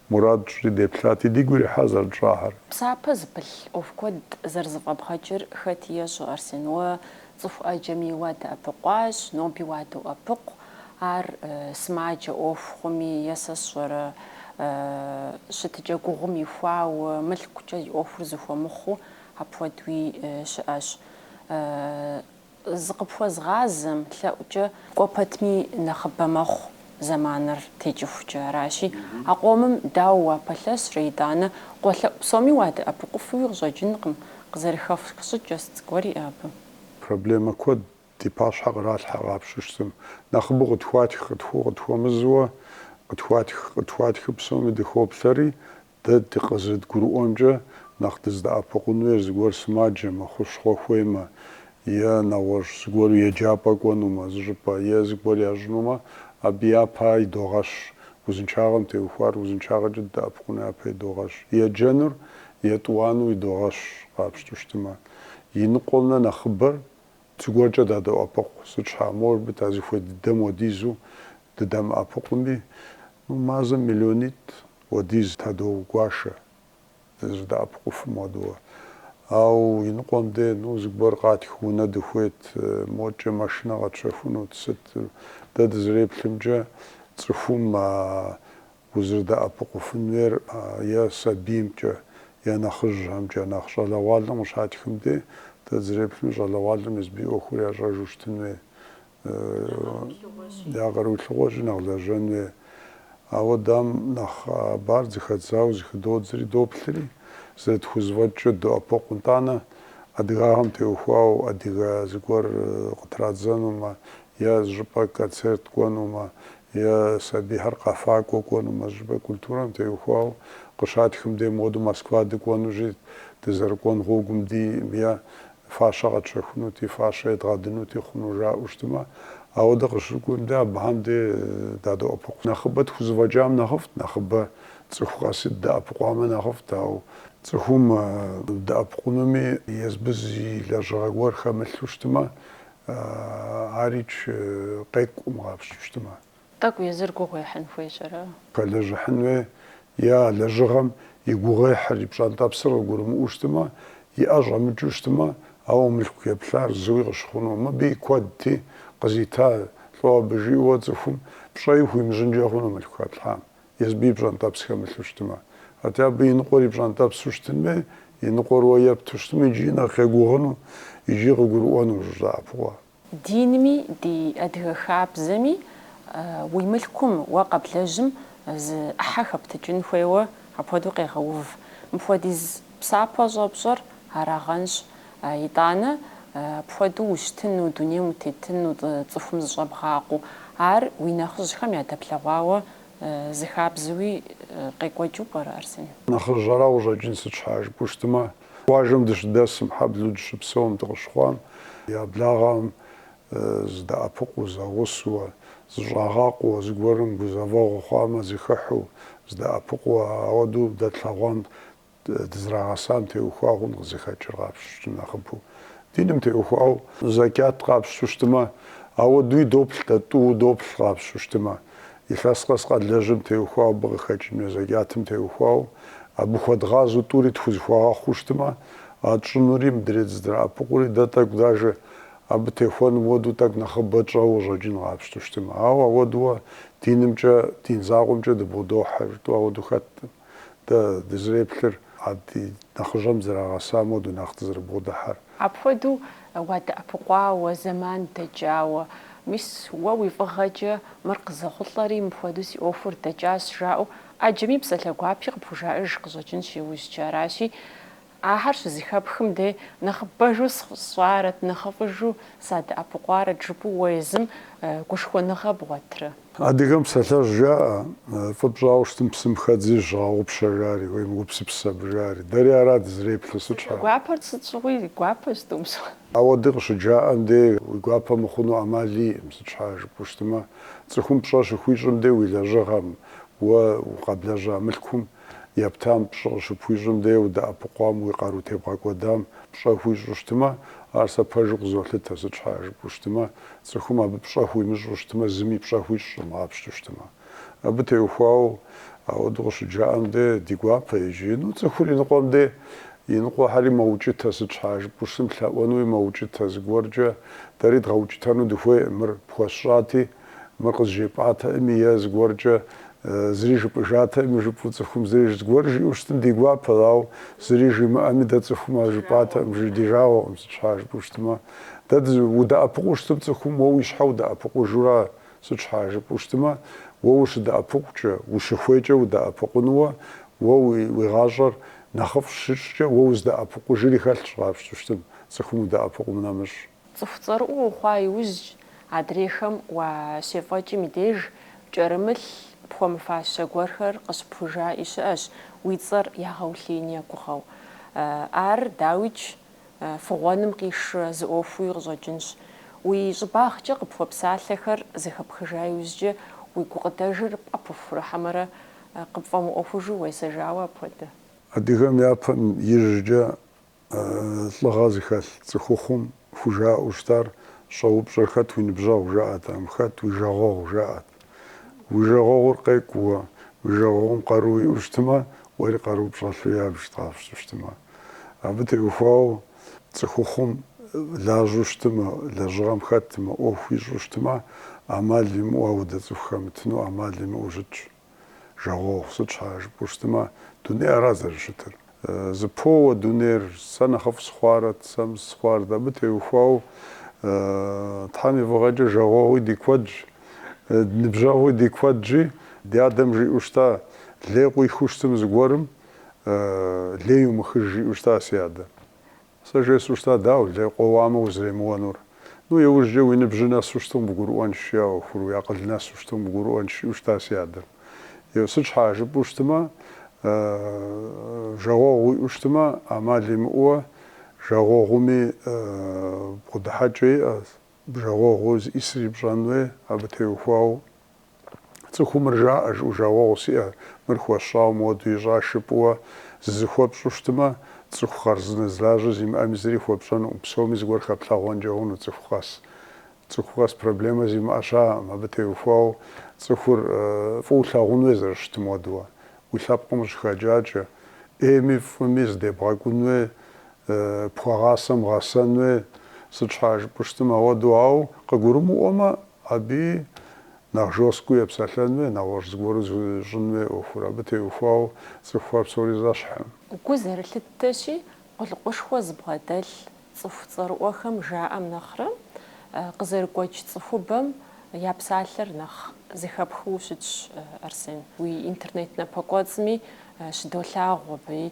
мурад тщӏри деплъати, дигу ирихьа зэрытщӏахэр. Псапэ зыпылъ ӏуэху куэд зэрызэфӏэбгъэкӏыр хэти ещӏэ, Арсен, уэ цӏыху ӏэджэми уадэӏэпыкъуащ, ноби уадоӏэпыкъу, ар сымаджэ ӏуэху хъуми е сэ сщӏэрэ, щытыкӏэ гугъум ихуауэ, мылъкукӏэ и ӏуэхур зыхуэмыхъуу, Апхуэдуи щыӏэщ. Зыкъыпхуэзгъазэм лъэӏукӏэ. Кӏуэ пэтми нэхъыбэ мэхъу зэманыр текӏыхукӏэ. Аращи, а къомым дауэ уапэлъэщрэ, итӏанэ къуэлъэӏу псоми уадэӏэпыкъуфуи къыщӏэкӏынкъым, къызэрыхэфх щӏыкӏэ сыт зыгуэр иӏэ абы? Проблемэ куэд ди пащхьэ къралъхьэ къапщтэу щытым. Нэхъыбэу къытхуатх, къытхуэу, къытхуэмызуэ, къытхуатх, къытхуатхыу псоми дыхоплъэри, Дэ дыкъызыдгурыӏуэмкӏэ, нэхъ дыздэӏэпыкъун хуейр зыгуэр сымаджэмэ, хущхъуэ хуеймэ, е нэгъуэщӏ зыгуэру еджапӏэ кӏуэнумэ, зыщӏыпӏэ, е зыгуэр ящӏынумэ, абы япэ идогъэщ. Узыншагъэм теухуар узыншагъэкӏэ дыдэӏэпыкъуну япэ идогъэщ. Еджэнур етӏуанэу идогъэщ, къапщту щытымэ. И ныкъуэмрэ нэхъыбэр Зыгуэркӏэ дадоӏэпыкъу, сыт щхьа, может быть, а зыхуей дыдэм уэдизу дыдэмыӏэпыкъуми, ну мазэм миллионитӏ уэдиз тадогуашэ, дызыдэӏэпыкъуфым хуэдэуэ. Ауэ иныкъуэм де, ну, зыгуэр къатх унэ дыхуейт, мокӏэ машинэ къэтщэхунут, сыт, дэ дызэреплъымкӏэ, цӏыхум а узэрыдэӏэпыкъуфын хуейр е сабиймкӏэ, е нэхъыжьхэмкӏэ, нэхъ щӏалэгъуалэм къыщатхым де, дэ дызэреплъым, щӏалэгъуалэм езыбы и ӏуэхур ящӏэжу щытын хуей, я къару илъыгъуэщи нэхъ лэжьэн хуей. Ауэ дам нэхъ абар зыхэдзауэ зыхыдодзри, доплъри, зэрытхузэфӏэкӏкӏэ доӏэпыкъу. Итӏанэ, адыгагъэм теухуауэ адыгэ зыгуэр къытрадзэнумэ, е зыщӏыпӏэ концерт кӏуэнумэ, е сабийхэр къэфакӏуэ кӏуэнумэ, зыщӏыпӏэ культурэм теухуауэ къыщатхым дей моду Москва дыкӏуэнущи, дызэрыкӏуэн гъуэгум ди е фащэ къэтщэхунути, фащэ едгъэдынути хъуну жаӏэу щытымэ, ауэдэ къыщыкӏуэм дэ абыхэм дей дадоӏэпыкъу. Нэхъыбэ тхузэфӏэкӏам нэхъыфӏт, нэхъыбэ цӏыху къэси дыдэӏэпыкъуамэ нэхъыфӏт, ауэ цӏыхум дэӏэпыкъунуми езыбы зы и лэжьыгъэ гуэр хэмылъу щытымэ, Арикӏ къекӏуӏым къапщту щытымэ. Тӏэкӏу езыр гугъу ехьын хуейщ, ара? Пэлэжьыхьын хуей, е а лэжьыгъэм и гугъуехьыр, и пщӏэнтӏэпсыр къыгурымыӏуэу щытымэ, и ӏэ щӏэмыкӏыу щытымэ, ауэ мылъку ептар зыуи къыщыхъуну. Мыбы и куэдти, къызита лӏо абы жиӏэуэ цӏыхум пщӏэи хуимыщӏынкӏэ хъуну мылъку хэплъхьам. Езыбы и пщӏэнтӏэпс хэмылъу щытмэ. Атӏэ абы и ныкъуэр и пщӏэнтӏэпсу щытын хуей, и ныкъуэр уэ епту щытмэ, икӏи нэхъ егугъуну икӏи къыгурыӏуэну узэрыдэӏэпыкъуар. Динми ди адыгэ хабзэми уи мылъкум уэ къэблэжьым зы ӏыхьэ хэптыкӏын хуейуэ апхуэдэу къегъэув. Мыпхуэдиз Псапэ щӏэпщӏэр арагъэнщ, итӏанэ, апхуэдэу ущытыну, дунейм утетыну, цӏыхум зыщӏэбгъакъуу. Ар уи нэхъыжьхэм ядэплъэгъуауэ зы хабзэуи къекӏуэкӏыу пӏэрэ, Арсен? Нэхъыжьхэра къыщӏэкӏын, сыт щхьа жыпӏэу щытмэ, къуажэм дыщыдэсым, хьэблэу дыщыпсэум, дыкъыщыхъуам, я благъэм, здэӏэпыкъуу, зэгъусэу, зыщӏагъакъуэу, зыгуэрым гузэвэгъуэ хъуамэ, зыхыхьу, здэӏэпыкъуу, ауэдэу дэ тлъэгъуам дызрагъэсам теухуа хъун къызыхэкӏыр къапщту щытым нэхъыбэу. Диным теухуау зэкӏат къапщту щытымэ, ауэдууи доплъ дэ, тӏууэ доплъ къапщту щытымэ. Илъэс къэс къэдлэжьым теухуау абы къыхэкӏым е зэкӏатым теухуау абы хуэдгъазэу тӏури тхузыхуагъэхъуу щытымэ, а тщӏынури, мыдрей дызэрыдэӏэпыкъури, дэ тӏэкӏу дажэ Абы техуэным хуэдэу тӏэкӏу нэхъыбэ тщӏэуэ къыщӏэкӏын къапщту щытым. Ауэ ауэдууэ динымкӏэ, дин закъуэмкӏэ дыбгъэдохьэ жытӏэу ауэду хэтӏым. Дэ дызреплъыр, а ди нэхъыжьхэм дызэрагъэсам хуэдэу нэхъ дызэрыбгъэдыхьэр. Апхуэдэу уадэӏэпыкъуауэ, зэман дэкӏауэ. Мис уэ уи фӏыгъэкӏэ мыр къызэхъулӏэри, мыпхуэдэу си ӏуэхур дэкӏащ жаӏэу ӏэджэми псалъэ гуапи къыпхужаӏэж къыщӏэкӏынщ иужькӏэ. Аращи, Ахэр щызыхэпхым дей нэхъыбэжу сщӏарэт, нэхъыфӏыжу садэӏэпыкъуарэт жыпӏэу уэ езым гушхуэныгъэ бгъуэтырэ? Адыгэм псалъэжь жаӏэ, фӏы пщӏауэ щытым псым хэдзи зыщыгъэгъупщэ жари, уемыгупсыс абы жари. Дэри ара дызэреплъыр, сыт щхьа? Гуапэр сыт щыгъуи гуапэщ. Ауэдэу къыщыджаӏэм дей уи гуапэ мыхъуну ӏэмал иӏым, сыт щхьа жыпӏэу щытымэ, цӏыхум пщӏэ щыхуищӏым дей уи лэжьыгъэм, уэ укъэблэжьа мылъкум Ептам пщӏэ къыщыпхуищӏым дей удэӏэпыкъуам уи къару тебгъэкӏуэдам пщӏэ хуищӏу щытмэ, ар сэ пэжу къызолъытэ, сыт щхьа жыпӏэу щытмэ, цӏыхум абы пщӏэ хуимыщӏу щытмэ, зыми пщӏэ хуищӏым къапщту щытмэ. Абы теухуауэ ауэдэу къыщыджаӏэм дей ди гуапэ иджы, ну цӏыхур иныкъуэм дей иныкъуэхэри мэукӏытэ, сыт щхьа жыпӏэу щытым, лъэӏуэнуи мэукӏытэ, зыгуэркӏэ дэри дгъэукӏытэну дыхуейӏым, мыр пхуэсщӏати, Мыр къызжепӏатэӏыми е зыгуэркӏэ зыри жыпӏыжатэӏыми жыпӏэу цӏыхум зыри зыгуэр жиӏэу щытым ди гуапэт, ауэ зыри жимыӏэми дэ цӏыхум ар жыпӏатэӏым жи ди жагъуэкъым сыт щхьа жыпӏэу щытымэ. Дэ удэӏэпыкъуу щытым цӏыхум уэ уи щхьэ удэӏэпыкъужу ара сыт щхьа жыпӏэу щытымэ, уэ ущыдэӏэпыкъукӏэ, ущыхуейкӏэ удэӏэпыкъунуэ уэ уи гъащӏэр нэхъыфӏ щыпщӏкӏэ уэ уздэӏэпыкъужри хэлъщ къапщту щытым цӏыхум удэӏэпыкъум нэмыщӏ. Цӏыху цӏэрыӏуэ ухъуа иужькӏэ, адрейхэм уащефӏэкӏым и деж, пкӏэрымылъ пхуэмыфащэ гуэрхэр къыщыпхужаӏи щыӏэщ уи цӏэр ягъэулъеин я гугъэу. Ар, дауикӏ, фыгъуэным къишэ зы ӏуэхууи къыщӏэкӏынщ. Уи щӏыбагъкӏэ къыпхуэпсалъэхэр зэхэпхыжа иужькӏэ, уи гукъыдэжыр пӏэпыхурэ хьэмэрэ къыпфӏэмыӏуэхужу уесэжауэ апхуэдэ. Адыгэм япэм ижькӏэ Лӏыгъэ зыхэлъ цӏыхухъум хужаӏэу щытар щӏэупщӏэр хэт уи ныбжьэгъу жаӏэтэӏым, хэт уи жагъуэгъу жаӏэт. Уи жагъуэгъур къекӏу уэ, уи жагъуэгъум къару иӏэу щытмэ, уэри къару пщӏэлъу ябж къапщту щытмэ. Абы теухуауэ цӏыхухъум лажьэу щытмэ, лэжьыгъэм хэтмэ, ӏуэху ищӏу щытмэ, ӏэмал имыӏэу ауэдэ цӏыху хэмытыну ӏэмал имыӏэу щытщ. Жагъуэгъу сыт щхьа жыпӏэу щытымэ, дунейр ара зэрыщытыр. Зыпоуэ дунейр, сэ нэхъыфӏ сыхъуарэт, сэ мыс сыхъуарэт, абы теухуауэ Тхьэм и фӏыгъэкӏэ жагъуэгъуи ди куэдщ, ныбжьэгъуи ди куэдщи, ди адэм жиӏэу щыта, лей къуихыу щытым зыгуэрым, лей умыхыж жиӏэу щыта си адэ. Сэ жесӏэу щыта, дауэ, лей къоуамэ узэремыуэнур? Ну, иужькӏэ уи ныбжьыр нэсу щытым къыбгурыӏуэнщ, жи а ӏуэхур, уи акъыл нэсу щытым къыбгурыӏуэнщ, жиӏэу щыта си адэм. Еу, сыт щхьа, жыпӏэу щытмэ, жагъуэгъу уиӏэу щытмэ, ӏэмал имыӏэуэ жагъуэгъуми бгъэдыхьэкӏэ иӏэщ, жагъуэгъур зищӏысри пщӏэн хуей, абы теухуауэ. Цӏыхум мыр жаӏэ, жыӏэу жагъуэгъу сиӏэ, мыр хуэсщӏауэ моду ищӏа жыпӏэуэ зызыхуэпщӏу щытмэ, цӏыху хъарзынэ зы лажьэ зимыӏэми зыри хуэпщӏэнукъым, псоми зыгуэр хэплъагъуэнкӏэ хъуну цӏыху къэс. Цӏыху къэс проблемэ зимыӏэ щыӏэкъым, абы теухуауэ цӏыхур фӏыуэ лъагъун хуей зэрыщытым хуэдэуэ. Уи лъэпкъым къыщыхэкӏакӏэ, ӏейми фӏыми зыдебгъэкӏун хуей, пхуэгъасэм гъэсэн хуей, сыт щхьэкӏэ жыпӏэу щытмэ, уэдэу, ауэ къыгурымыӏуэмэ, Абы нэхъ жесткэу епсэлъэн хуей, нэгъуэщӏ зыгуэру зыщӏын хуей ӏуэхур, абы теухуауэ цӏыхухэр псори зэщхькъым. Гу зэрылъыттэщи, къулыкъушхуэ зыбгъэдэлъ цӏыху цӏэрыӏуэхэм жаӏэм нэхърэ, къызэрыгуэкӏ цӏыхубэм я псалъэр нэхъ зэхэпхыу щытщ, Арсен. Уи интернет напэкӏуэцӏми щыдолъагъу абы,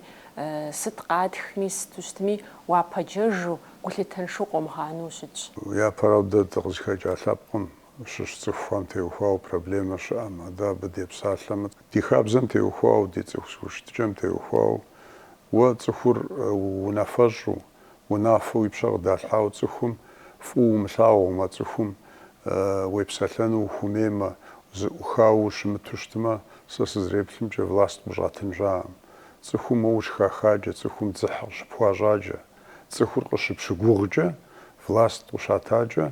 сыт къатхми, сыту щытми уапэджэжу, гулъытэншэу къомыгъанэу щытщ. Япэрауэ дэ дыкъызыхэкӏа лъэпкъым щыщ цӏыхухэм теухуауэ проблемэ щыӏэмэ, дэ абы депсалъэмэ, ди хабзэм теухуауэ, ди цӏыху зэхущытыкӏэм теухуауэ, уэ цӏыхур унафэщӏу, унафэу уи пщэ къыдалъхьауэ цӏыхум фӏыуэ умылъагъумэ, цӏыхум уепсэлъэну ухуэмеймэ, зэӏухауэ ущымыту щытмэ, сэ сызэреплъымкӏэ, власт къыщӏыуатын щыӏэкъым. Цӏыхум уэ ущыхахаджэ, цӏыхум дзыхь къыщыпхуащӏаджэ. Цӏыхур къыщыпщыгугъкӏэ, власт къыщатакӏэ,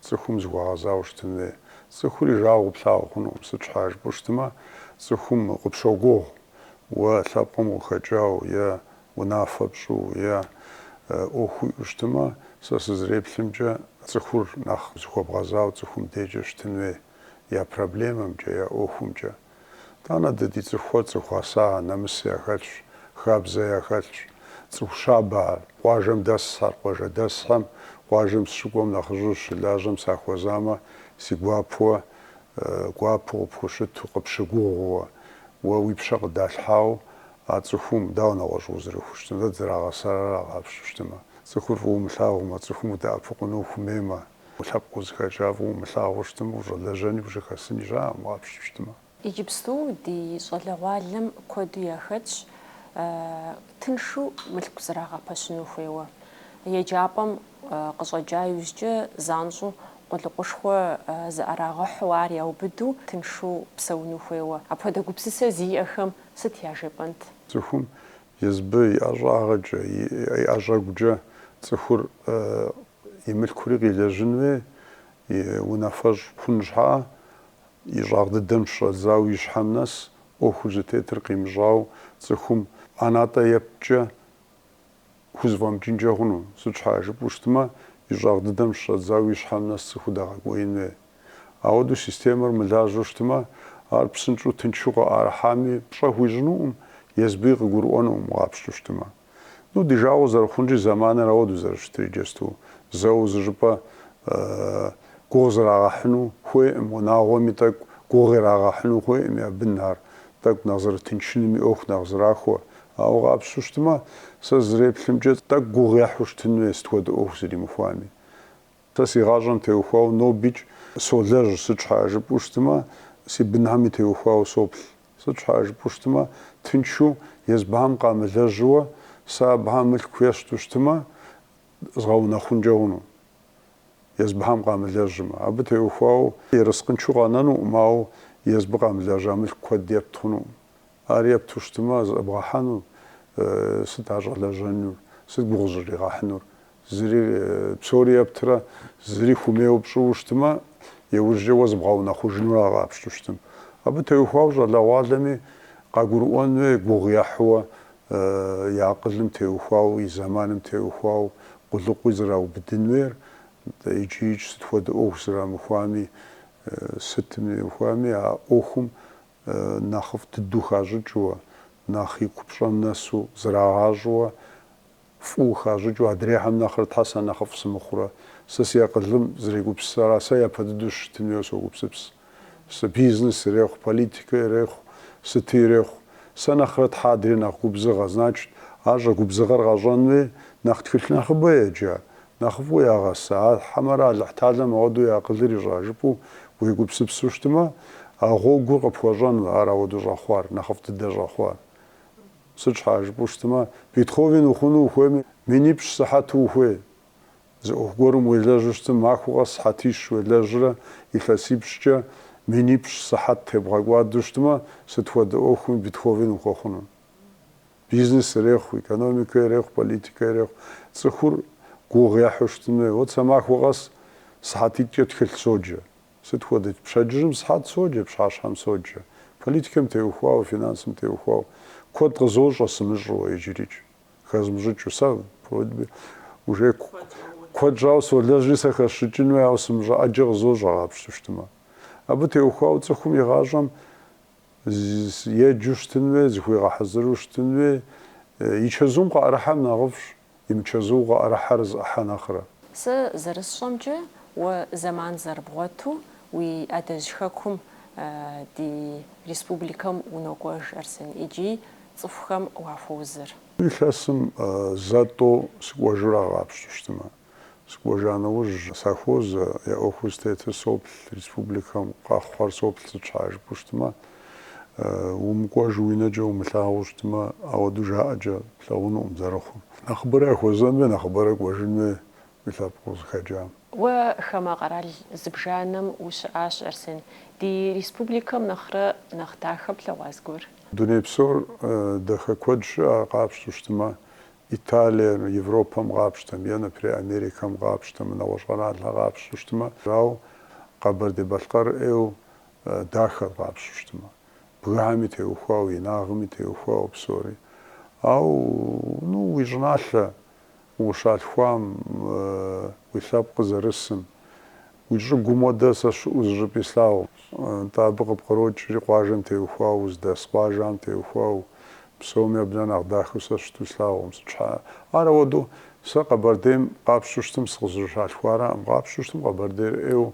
цӏыхум зыхуэгъэзауэ щытын хуей. Цӏыхур и жагъуэ плъагъу хъунукъым, сыт щхьа жыпӏэу щытмэ, цӏыхум къыпщогугъ уэ лъэпкъым къыхэкӏауэ е унафэ пщӏу, е ӏуэху уиӏэу щытмэ, сэ сызэреплъымкӏэ, цӏыхур нэхъ зыхуэбгъэзауэ цӏыхум дежкӏэ щытын хуей, я проблемэмкӏэ, я ӏуэхумкӏэ. Тӏанэ дэ ди цӏыхухэр цӏыху гъэса, нэмыс яхэлъщ, хабзэ яхэлъщ. Цӏыху щабэ ар. Къуажэм дэсхэр, къуажэдэсхэм. Къуажэм сыщыкӏуэм нэхъыжьу щылажьэм сахуэзамэ, си гуапэуэ, гуапэу къыпхущыту, къыпщыгугъууэ, уэ уи пщэ къыдалъхьауэ а цӏыхум, дауэ нэгъуэщӏ узэрыхущытынур? Дэ дызэрагъэсар ара, къапщтэу щытмэ. Цӏыхур фӏыуэ умылъагъумэ, цӏыхум удэӏэпыкъуну ухуэмеймэ, Уи лъэпкъ узыхэкӏа фӏыуэ умылъагъуу щытмэ, ущӏэлэжьэни ущыхэсыни щыӏэкъым, къапщтэу щытмэ. Иджыпсту ди щӏалэгъуалэм куэду яхэтщ тыншу мылъку зрагъэпэщыну хуейуэ. Еджапӏэм къыщӏэкӏа иужькӏэ занщӏэу къулыкъушхуэ зыӏэрагъэхьэу ар яубыду тыншу псэуну хуейуэ. Апхуэдэ гупсысэ зиӏэхэм сыт яжепӏэнт? Цӏыхум езыбы и ӏэщӏагъэкӏэ, и ӏэщӏэгукӏэ цӏыхур И мылъкури къилэжьын хуей, и унафэщӏ хъун щхьа, и щӏагъ дыдэм щыщӏэдзауэ и щхьэм нэс ӏуэхур зытетыр къимыщӏауэ цӏыхум ӏэнатӏэ епткӏэ хузэфӏэмыкӏынкӏэ хъуну? Сыт щхьа, жыпӏэу щытмэ, и щӏагъ дыдэм щыщӏэдзауэ и щхьэм нэс цӏыху дэгъэкӏуеин хуей. Ауэдэу системэр мылажьэу щытмэ, ар псынщӏэу тыншу къыӏэрыхьами пщӏэ хуищӏынукъым, езбыи къыгурыӏуэнукъым къапщту щытмэ. Ну, ди жагъуэ зэрыхъунщи, зэманыр ауэдэу зэрыщытыр иджысту зэу зы щӏыпӏэ гугъу зрагъэхьыну хуейкъым, унагъуэми тӏэкӏу гугъу ирагъэхьыну хуейкъым я бынхьэр, тӏэкӏу нэхъ зэрытыншынми, ӏуэху нэхъ зэрахуэ. Ауэ къапщту щытмэ, сэ зэреплъымкӏэ, тӏэкӏу гугъу ехьу щытын хуей сыт хуэдэ ӏуэху зэримыхуами. Сэ си гъащӏэм теухуауэ нобикӏ солэжь, сыт щхьа жыпӏэу щытмэ, си бынхьэми теухуауэ соплъ. Сыт щхьа жыпӏэу щытмэ, тыншу, езбыхьэм къамылэжьууэ, сэ абыхэм мылъку есту щытмэ, згъэунэхъункӏэ хъуну, езбыхьэм къамылэжьмэ. Абы теухуауэ ерыскъыншэу къэнэнукъым, ауэ езбы къамылэжьа мылъку куэд епт хъунукъым. Ар епту щытмэ, зэбгъэхьэну, сыт ар щӏэлэжьэнур, сыт гугъу зыщӏригъэхьынур, Зыри, псори ептрэ, зыри хумейуэ пщӏыуэ щытмэ, иужькӏэ уэ зыбгъэунэхъужынур ара къапщту щытым. Абы теухуауэ щӏалэгъуалэми, къагурыӏуэн хуей гугъу ехьууэ, и акъылым теухуауэ, и зэманым теухуауэ къулыкъуи зэраубыдын хуейр, икӏикӏ сыт хуэдэ ӏуэху зэрамыхуами, сытым имыхуами а ӏуэхум нэхъыфӏ дыдэу хащӏыкӏыуэ, нэхъ и купщӏэм нэсу зрагъащӏэуэ, фӏыуэ хащӏыкӏыу адрейхэм нэхърэ тхьэ сэ нэхъыфӏ сымыхъурэ, сэ си акъылым зэрегупсысыра, сэ япэ дыдэу щытын хуейуэ согупсыпс. Сэ бизнес ирехъу, политикэ ирехъу, сыти ирехъу. Сэ нэхърэ тхьэ адрей нэхъ губзыгъэ, значит, ар щӏэгубзыгъэр къэщӏэн хуей, нэхъ тхылъ нэхъыбэ еджа, нэхъыфӏу ягъэса, а хьэмэрэ Алыхьталэм ауэдэу и акъылыр ищӏа жыпӏэу уегупсыпсу щытмэ, а гъуэгур къыпхуэщӏэнуэ, ар ауэдэу щӏэхъуар, нэхъыфӏ дыдэ щӏэхъуар. Сыт щхьа жыпӏэу щытмэ, Бетховен ухъуну ухуеймэ, минипщӏ сыхьэту ухуей. Зы ӏуэху гуэрым уелэжьу щытым, махуэ къэс сыхьэтищ уелэжьрэ, илъэсипщӏкӏэ минипщӏ сыхьэт тебгъэкӏуадэу щытмэ, сыт хуэдэ ӏуэхуми Бетховен ухуэхъуну. Бизнес ирехъу, экономикэ ирехъу, политикэ ирехъу. Цӏыхур гугъу ехьу щытмэ. Вот сэ махуэ къэс сыхьэтитӏкӏэ тхылъ соджэ. Сыт хуэдэ? Пщэдджыжьым сыхьэт соджэ, пщыхьэщхьэм соджэ. Политикэм теухуауэ, финансым теухуауэ куэд къызощӏэ сымыщӏэу иджырикӏ, хэзмыщӏыкӏыу. Сэ уже куэд щӏауэ солэжьри сэ хэсщӏыкӏын хуей, ауэ сымыщӏэ ӏэджэ къызощӏэ къапщту щытмэ. Абы теухуауэ цӏыхум и гъащӏэм еджэу щытын хуей, зыхуигъэхьэзыру щытын хуей. И чэзум къыӏэрыхьэмэ нэхъыфӏщ. Имычэзу къаӏэрыхьэр зы ӏыхьэ нэхърэ. Сэ зэрысщӏэмкӏэ, уэ зэман зэрыбгъуэту уи адэжь хэкум ди республикэм унокӏуэж, Арсен, икӏи цӏыхухэм уахуэузыр. Илъэсым зэ-тӏэу сыкӏуэжу ара къапщту щытымэ, Сыкӏуэжа нэужь, сахуозэ, я ӏуэхур зытетыр соплъ, республикэм къэхъуэр соплъ сыт щхьа жыпӏэу щытмэ, умыкӏуэж уи нэкӏэ умылъагъуу щытмэ, ауэдэу жаӏэкӏэ плъэгъунукъым зэрыхъур. Нэхъыбэрэ яхуэзэн хуей, нэхъыбэрэ кӏуэжын хуей уи лъэпкъ узыхэкӏам. Уэ хамэ къэрал зыбжанэм ущыӏащ, Арсен, ди республикэм нэхърэ нэхъ дахэ плъэгъуа зыгуэр? Дуней псор дахэ куэд щыӏэ, къапщтэу щытмэ, Италием, Европэм къапщтэм е, например, Америкэм къапщтэм, нэгъуэщӏ къэралхэр къапщу щытмэ, ауэ Къэбэрдей-Балъкъэр ӏейу дахэр къапщу щытмэ, бгыхэми теухуауэ, инагъми теухуауэ псори. Ауэ, ну, уи щӏыналъэ ущалъхуам, уи лъэпкъыр зэрысым, Уи щӏыгум хуэдэ сэ щыӏэу зыщӏыпӏи слъагъукъым, нтӏэ абы къыпкърокӏри къуажэм теухуауэ, уздэс къуажэм теухуауэ, псоми абы нэхъ нэхъ дахэу сэ щыту слъагъукъым, сыт щхьа? Ар ауэдэу, сэ Къэбэрдейм къапщтэу щытым сыкъызэрыщалъхуараӏым, къапщтэу щытым Къэбэрдейр ӏейуэ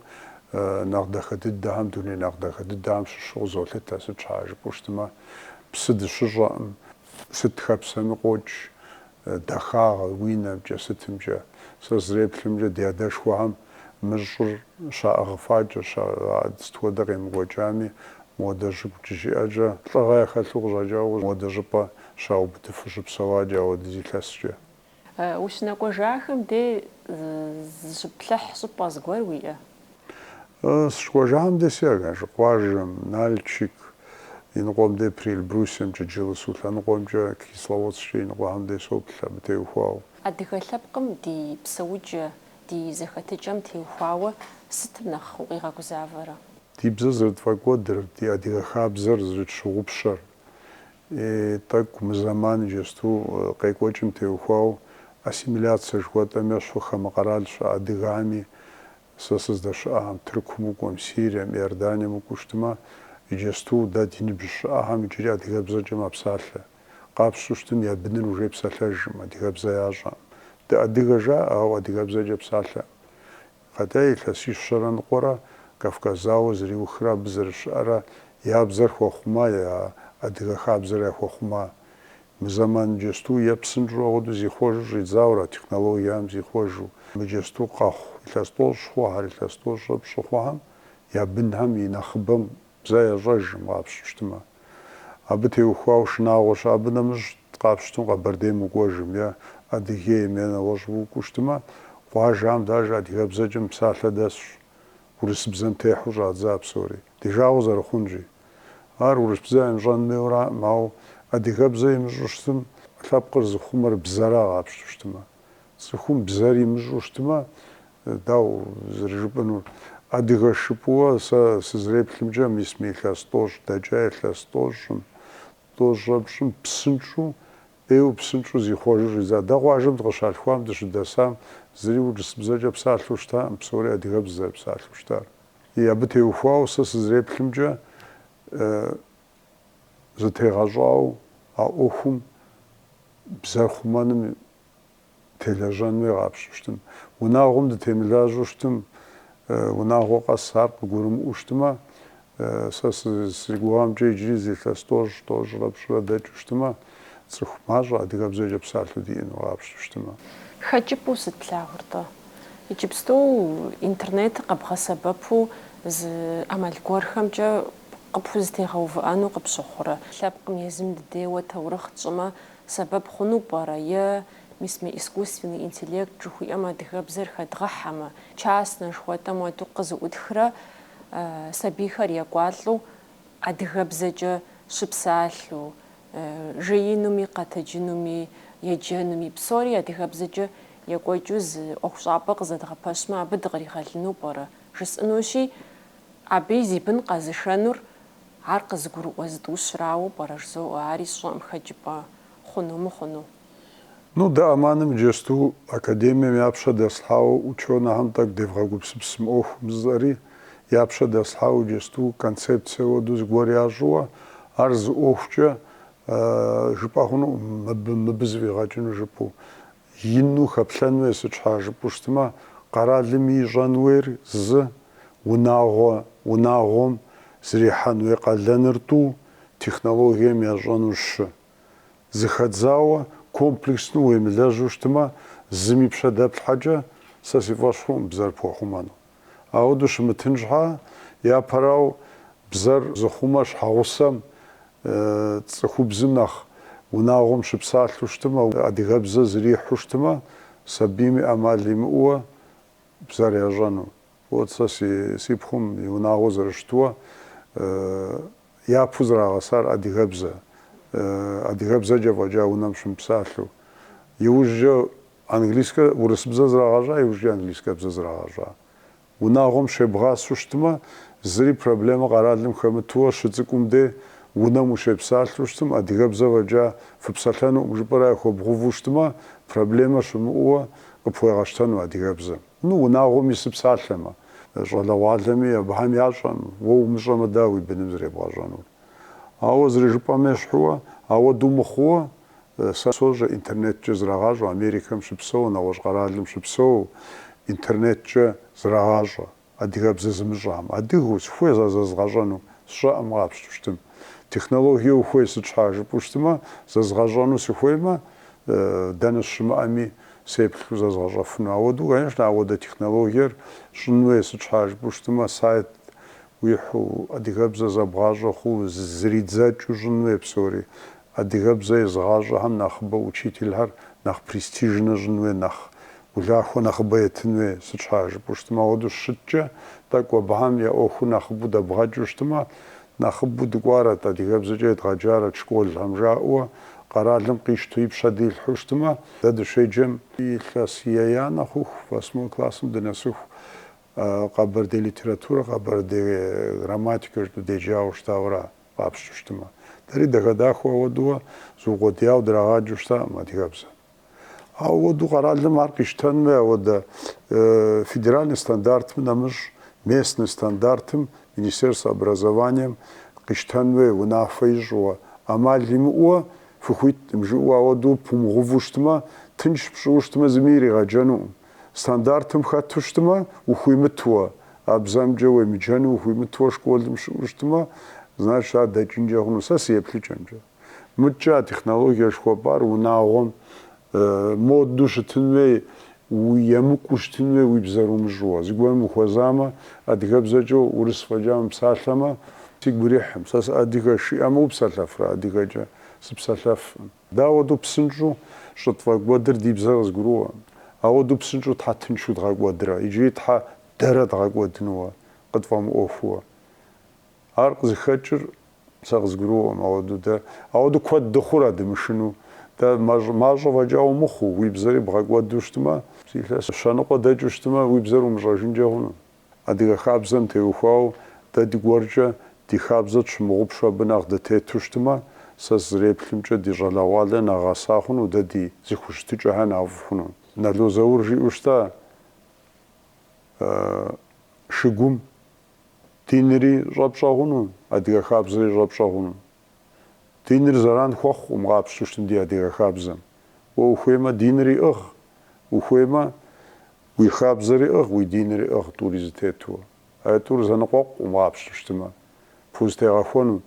нэхъ дахэ дыдэхэм, дуней нэхъ дахэ дыдэхэм щыщу къызолъытэ, сыт щхьа жыпӏэу щытымэ, псы дыщыщӏэкъым, сыт хэпсэми къокӏ, Дахагъэ, уи нэмкӏэ сытымкӏэ. Сэ сызэреплъымкӏэ, ди адэшхуэхэм мы щӏыр щаӏыгъыфакӏэ, ща, а сыт хуэдэ къемыкӏуэкӏами, модэ щӏыгу щиӏэкӏэ, лӏыгъэ яхэлъу къыщӏэкӏауэ модэ щӏыпӏэ щаубыдыфу щыпсэуакӏэ ауэдиз илъэскӏэ. Ущынэкӏуэжахэм де зыщыплъыхь щӏыпӏэ зыгуэр уиӏэ? Сыкӏуэжам дей си къуаж къуажэм, Налчик иныкъуэм дей Приэльбрусьемкӏэ, Джылысу лъэныкъуэмкӏэ, Кисловодсккӏэ иныкъуэхэм дей соплъ абы теухуауэ. Адыгэ лъэпкъым ди псэукӏэ, ди зэхэтыкӏэм теухуауэ сытым нэхъ укъигъэгузавэрэ? Ди бзэр зэрытфӏэкӏуэдыр, ди адыгэ хабзэр зэрытщыгъупщэр. тӏэкӏу мы зэман иджысту къекӏуэкӏым теухуау ассимиляцэ жыхуэтӏэм ещхьу хамэ къэрал щыӏэ адыгами, сэ сыздэщыӏахэм, Тыркум укӏуэм, Сирием, Иорданием укӏуэу щытымэ, иджысту дэ ди ныбжь щыӏэхэм иджыри адыгэбзэкӏэ мэпсалъэ. Къапщту щытым я быныр уже псалъэжӏым, адыгэбзэ ящӏэӏым. Дыадыгэ жаӏэ, ауэ адыгэбзэкӏэ псалъэӏым. Хотя илъэсищэрэ ныкъуэрэ Кавказ зауэ зэриухрэ абы зэрыщыӏэрэ я бзэр хуэхъума, я адыгэ хабзэр яхуэхъума. Мы зэман иджысту ӏей псынщӏэу ауэдэу зихъуэжу щӏидзауэ ара, технологиям зихъуэжу. Мы иджысту къэхъу илъэс тӏощӏ хъуэхэр, илъэс тӏощӏрэ пщӏы хъуэхэм я бынхэм и нэхъыбэм Бзэ ящӏэжым къапщту щытмэ, абы теухуауэ шынагъуэ щыӏэ. Абы нэмыщӏ къапщтым Къэбэрдейм укӏуэжым е Адыгейм е нэгъуэщӏ укӏуэу щытмэ, къуажэм деж адыгэбзэкӏэ мыпсалъэ дэсщ, урысыбзэм техьу щӏадза псори, ди жагъуэ зэрыхъунщи. Ар урысбзэ имыщӏэн хуейуэ араӏым, ауэ адыгэбзэ имыщӏу щытым, лъэпкъыр зыхъумэр бзэра къапщту щытмэ. Цӏыхум бзэр имыщӏу щытмэ, дауэ зэрыжыпӏэнур адыгэщ жыпӏууэ, сэ сызэреплъымкӏэ, мис мы илъэс тӏощӏ дэкӏа илъэс тӏощӏым, тӏощӏрэ пщӏым псынщӏэу, ӏейуэ псынщӏэу зихъуэжу щӏидза. Дэ къуажэм дыкъыщалъхуам, дыщыдэсам, зыри урысыбзэкӏэ псалъэу щытаӏым, псори адыгэбзэ зэрыпсалъэу щытар. Ий, абы теухуауэ сэ сызэреплъымкӏэ, зытегъэщӏауэ а ӏуэхум бзэр хъумэным телэжьэн хуей къапщту щытым. Унагъуэм дытемылажьэу щытым, унагъуэ къэс ар къыгурымыӏуэу щытымэ, сэ си гугъэмкӏэ иджыри зы илъэс тӏощӏ, тӏощӏрэ пщӏырэ дэкӏыу щытымэ, цӏыху мащӏэ, адыгэбзэкӏэ псалъэу диӏэну къапщту щытымэ. Хэкӏыпӏэу сыт плъагъуртӏэ? Иджыпсту интернетыр къэбгъэсэбэпу зы ӏэмал гуэрхэмкӏэ къыпхузэтегъэувыӏэну къыпщыхъурэ? Лъэпкъым езым дыдейуэ таурыхъ тщӏымэ, сэбэп хъуну пӏэрэ? Е, мис мы искусственный интеллект жыхуиӏэм адыгэбзэр хэдгъэхьэмэ, частнэ жыхуэтӏэм хуэдэу къызыӏутхрэ сабийхэр екӏуалӏэу адыгэбзэкӏэ щыпсалъэу, жеинуми, къэтэджынуми, еджэнуми, псори адыгэбзэкӏэ екӏуэкӏыу зы ӏуэхущӏапӏэ къызэдгъэпэщмэ, абы дыкъригъэлыну пӏэрэ? Жысӏэнущи, Абы и зи бын къэзышэнур ар къызыгурыӏуэ зытӏущырауэ пӏэрэ, жызоӏэ, ари сщӏэӏым хэкӏыпӏэ хъуну мыхъуну. Ну, дэ АМАН-ым иджэсту академием я пщэ дэслъхьауэ учёнэхэм тӏэкӏу девгъэгупсыпс мы ӏуэхум жысӏэри, я пщэ дэслъхьауэ иджэсту концепцие хуэдэу зыгуэр ящӏыуэ, ар зы ӏуэхукӏэ жыпӏэ хъунукъым мыбы, мыбы зэфӏигъэкӏыну жыпӏэу. Ину хэплъэн хуей сыт щхьа жыпӏэу щытмэ, къэралми ищӏэн хуейр зы, унагъуэ, унагъуэм зэрихьэн хуей къалэныр тӏу, технологием ящӏэну щы. Зыхэдзауэ, комплексно уемылэжьу щытмэ, зым и пщэ дэплъхьэкӏэ, сэ си фӏэщ хъуӏым бзэр пхуэхъумэну. Ауэдэу щымытын щхьа, япэрау бзэр зыхъумэ щхьэгъусэм, цӏыхубзым нэхъ унагъуэм щыпсалъэу щытмэ, адыгэбзэ зрихьу щытмэ, сабийми ӏэмал имыӏууэ бзэр ящӏэну. Вот сэ си пхъум и унагъуэ зэрыщытууэ. Япэу зэрагъэсар адыгэбзэ, адыгэбзэкӏэ фӏэкӏа унэм щымыпсалъэу. Иужькӏэ английскэ, урысыбзэ зрагъэщӏа, иужькӏэ английскэбзэ зрагъэщӏа. Унагъуэм щебгъасэу щытмэ, зыри проблемэ къэралым хэмытууэ, щыцӏыкӏум де унэм ущепсалъэу щытым, адыгэбзэ фӏэкӏа фыпсэлъэнуӏым жыпӏэрэ яхуэбгъувэу щытмэ, проблемэ щымыӏууэ къыпхуегъэщтэну адыгэбзэм. Ну, унагъуэм ису псалъэмэ, щӏалэгъуалэми, абыхэм ящӏэм, уэ умыщӏэмэ, дауэ уи быным зребгъэщӏэнур? Ауэ зэрыжыпӏэм ещхьууэ, ауэдэу мыхъууэ, сэ сощӏэ, интернеткӏэ зрагъащӏэ, Америкэм щыпсэу, нэгъуэщӏ къэралым щыпсэу, интернеткӏэ зрагъащӏэ, адыгэбзэ зымыщӏам, адыгэу, сыхуей зэзгъэщӏэну, сщӏэӏым къапщту щытым. Технологие ухуей сыт щхьа жыпӏэу щытымэ, зэзгъэщӏэну сыхуеймэ, дэнэ сыщымыӏэми, Сеплъу зэзгъэщӏэфыну. Ауэдэу, конечно, ауэдэ технологиер щӏын хуей, сыт щхьа жыпӏэу щытмэ, сайт уихьу, адыгэбзэ зэбгъащӏэ хъуу, зридзэкӏыу щӏын хуей псори. Адыгэбзэ езыгъащӏэхэм нэхъыбэ учительхэр нэхъ престижнэ щӏын хуей, нэхъ улахуэ нэхъыбэ етын хуей, сыт щхьа жыпӏэу щытмэ. Ауэдэу щыткӏэ, тӏэкӏу абыхэм я ӏуэхур нэхъыбэу дэбгъэкӏыу щытмэ, Нэхъыбэу дыкӏуарэт, адыгэбзэкӏэ едгъэджарэт школхэм жаӏэу къэралым къищту и пщэ дилъхьэу щытмэ, дэ дыщеджэм илъэс еянэ хъуху, восьмой классым дынэсыху, къэбэрдей литературэ, къэбэрдей грамматикэ жытӏэу деджауэ щытауэра къапщту щытмэ. Дэри дахэ-дахэу ауэдэу зыукъуэдияуэ драгъаджэу щытаӏым адыгэбзэ. Ауэду къэралым ар къищтэн хуей ауэдэ федеральный стандартым нэмыщӏ местный стандартым Министерство образованием къищтэн хуей унафэ ищӏыуэ, ӏэмал имыӏууэ фыхуитӏым жыӏэу ауэду пумыгъуву щытмэ, тынш пщӏыуэ щытмэ зыми иригъэджэнуӏым. Стандартым хэту щытмэ, ухуимытуэ, а бзэмкӏэ уемыджэну ухуимытуэ школым щыӏэу щытмэ, значит ар дэкӏынкӏэ хъуну, сэ си еплъыкӏэмкӏэ. Мыдкӏэ а технологие жыхуэпӏар унагъуэм модэу щытын хуей, емыкӏуу щытын хуей уи бзэр умыщӏууэ. Зыгуэрым ухуэзамэ, адыгэбзэкӏэ урыс фӏэкӏа мыпсалъэмэ, сигу ирихьым. Сэ сыадыгэщ, жиӏэмэ упсэлъэфрэ адыгэкӏэ? Сыпсэлъэфӏым. Дауэду псынщӏэу щӏытфӏэкӏуэдыр ди бзэр къызгурыӏуэ? Ауэду псынщӏэу Тхьэ тыншу дгъэкӏуэдрэ иджыри Тхьэ дэрэ дгъэкӏуэдынуэ къытфӏэмыӏуэхууэ? Ар къызыхэкӏыр сэ къызгурыӏуэм ауэдурэ. Ауэду куэд дыхъур адымышыну. Дэ мащӏэ фӏэкӏа умыхъуу, уи бзэри бгъэкӏуэду щытмэ, илъэс щэныкъуэ дэкӏыу щытмэ, уи бзэр умыщӏэжынкӏэ хъуну. Адыгэ хабзэм теухуауэ, дэ дыгуэркӏэ ди хабзэ тщымыгъупщу абы нэхъ дытету щытмэ, сэ сызреплъымкӏэ ди щӏалэгъуалэр нэхъ гъэса хъуну, дэ ди зыхущытыкӏэхэр нэхъ фӏы хъуну. Нало Заур жиӏэу щыта шыгум. Динри щӏэпщӏэ хъуну, адыгэ хабзэри щӏэпщӏэ хъуну. Диныр зэран хуэхъукъым къапщту щытым ди адыгэ хабзэм. Уэ ухуеймэ динри ӏыгъ, ухуеймэ уи хабзэри ӏыгъ, уи динри ӏыгъ тӏури зэтетууэ. А тӏур зэныкъуэкъукъым къапщту щытымэ, пхузэтегъэхуэну.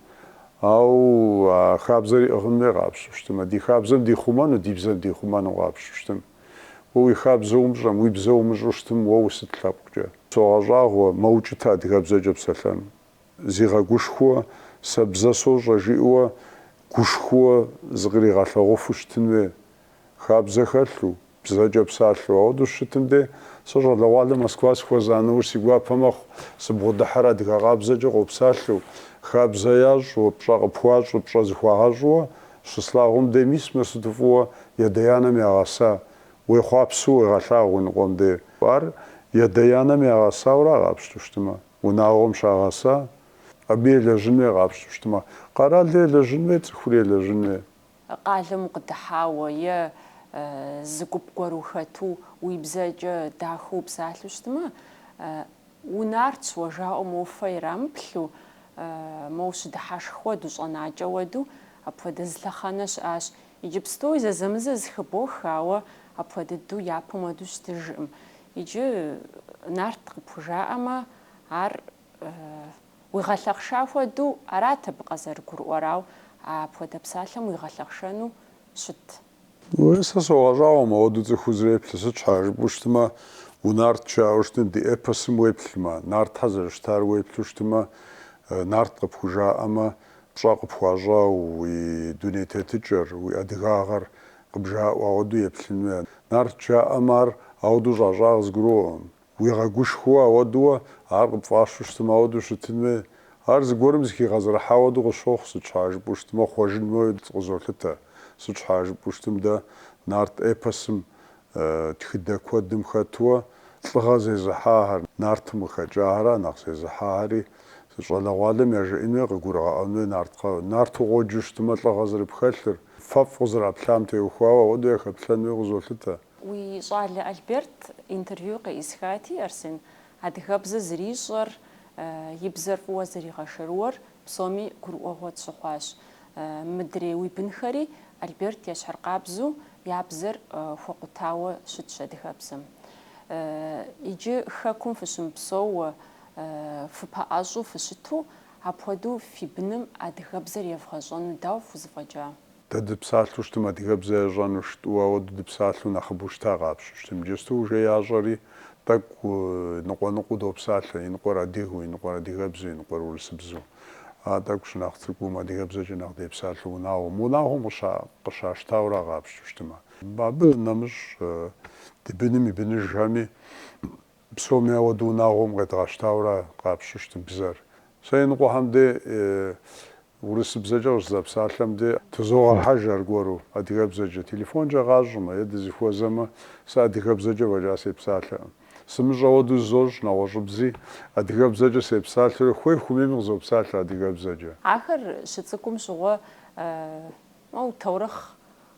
Ауэ а хабзэр ӏыгъын хуей къапщту щытымэ, ди хабзэм дихъумэну, ди бзэм дихъумэну къапщту щытым. Уэ уи хабзэ умыщӏэм, уи бзэ умыщӏу щытым уэ усыт лъэпкъкӏэ? Согъэщӏагъуэ, мэукӏытэ адыгэбзэкӏэ псэлъэну. Зигъэгушхуэу, сэ бзэ сощӏэ жиӏэуэ гушхуэу зыкъригъэлъэгъуэфу щытын хуей. Хабзэ хэлъу, бзэкӏэ псалъэу. Ауэдэу щытым дей, сэ щӏалэгъуалэ Москва сыхуэза нэужь си гуапэ мэхъу, сыбгъудыхьэр адыгэ къабзэкӏэ къопсалъэу, хабзэ ящӏу, пщӏэ къыпхуащӏу, пщӏэ зыхуагъэщӏуэ, Щыслъагъум дей мис мыр сыту фӏыуэ ядэ-янэм ягъэса, уехъуапсэу уегъэлъагъу иныкъуэм дей. Ар ядэ-янэм ягъэсаура къапщту щытмэ, унагъуэм щагъэса, абы елэжьын хуей къапщту щытмэ, къэралыр елэжьын хуей, цӏыхур елэжьын хуей. Къалэм укъыдыхьауэ е зы гуп гуэр ухэту уи бзэкӏэ дахэу упсалъэу щытмэ, Унартщ уэ жаӏэу моуэ фэ ирамыплъу, моу щыдыхьэшх хуэду, щӏэнакӏэ хуэду, апхуэдэ зы лъэхъэнэ щыӏащ. Иджыпстуи зэзэмызэ зыхыбох, ауэ апхуэдэ дыдэу япэм хуэду щытыжкъым. Иджы нарт къыпхужаӏэмэ, ар уигъэлъэхъша хуэду арат абы къазэрыгурыӏуэр, ауэ апхуэдэ псалъэм уигъэлъэхъшэну щытт. Уей, сэ согъэщӏагъуэ ауэду цӏыхур зэреплъыр, сыт щхьа жыпӏэу щытмэ, унарт жаӏэу щытми, ди эпосым уеплъмэ, нартхэр зэрыщытар уеплъу щытмэ, нарт къыпхужаӏэмэ, пщӏэ къыпхуащӏауэ уи дуней тетыкӏэр, уи адыгагъэр къыбжаӏуэ, ауэду еплъын хуей, нарт жаӏэмэ, ар ауэду щӏащӏа къызгурыӏуэкъым. Уигъэгушхуэу ауэдууэ, ар къыпфӏащу щытмэ, ауэдэу щытын хуей. Ар зыгуэрым зыхигъэзэрыхьа хуэдэу къысщохъу, сыт щхьа жыпӏэу щытмэ, хъуэжын хуей къызолъытэ. Сыт щхьа жыпӏэу щытым, дэ нарт эпосым тхыдэ куэдым хэтууэ лӏыгъэ зезыхьахэр, нартым къыхэкӏахэра нэхъ зезыхьахэри, щӏалэгъуалэм яжеӏэн хуей, къыгурыгъэӏуэн хуей нарт, нарту къоджэу щытмэ лӏыгъэ зэрыпхэлъыр, фэфӏ къызэраплъам теухуауэ ауэдэу яхэплъэн хуей къызолъытэ. Уи щӏалэ Альберт интервью къеӏысхати, Арсен, адыгэбзэр зэрищӏэр, и бзэр фӏыуэ зэригъэшэрыуэр псоми гурыӏуэгъуэ тщыхъуащ. Мыдрей уи бынхэри Альберт ещхьыркъабзу я бзэр хуэкъутауэ щытщ адыгэбзэм. Иджы Хэкум фыщымыпсэууэ, фыпэӏэщӏу фыщыту, апхуэдэу фи быным адыгэбзэр евгъэщӏэну дауэ фхузэфӏэкӏа? Дэ дыпсалъэу щытым адыгэбзэ ящӏэну щыту, ауэду дыпсалъэу нэхъыбэу щыта къапщту щытым. Иджысту уже ящӏэри, тӏэкӏу ныкъуэ-ныкъуэу допсалъэ, иныкъуэр адыгэу, иныкъуэр адыгэбзэу, иныкъуэр урысыбзэу. А тӏэкӏу щынэхъ цӏыкӏум адыгэбзэкӏэ нэхъ депсалъэу унагъуэм, унагъуэм къыщащтауэра къапщту щытымэ. Абы нэмыщӏ ди быным и быныжхэми Псоми ауэду унагъуэм къедгъэщтауэра къапщту щытым бзэр. Сэ иныкъуэхэм де урысыбзэкӏэ къыщызэпсалъэм де тызогъэхьэж аргуэру адыгэбзэкӏэ. Телефонкӏэ къащӏмэ е дызыхуэзэмэ, сэ адыгэбзэкӏэ фӏэкӏа сепсалъэкъым. Сымыщӏэ ауэдэу зызощӏ нэгъуэщӏыбзи, адыгэбзэкӏэ сепсалъэурэ хуей хуэмейми къызопсалъэ адыгэбзэкӏэ. Ахэр щыцӏыкӏум щыгъуэ, моу, таурыхъ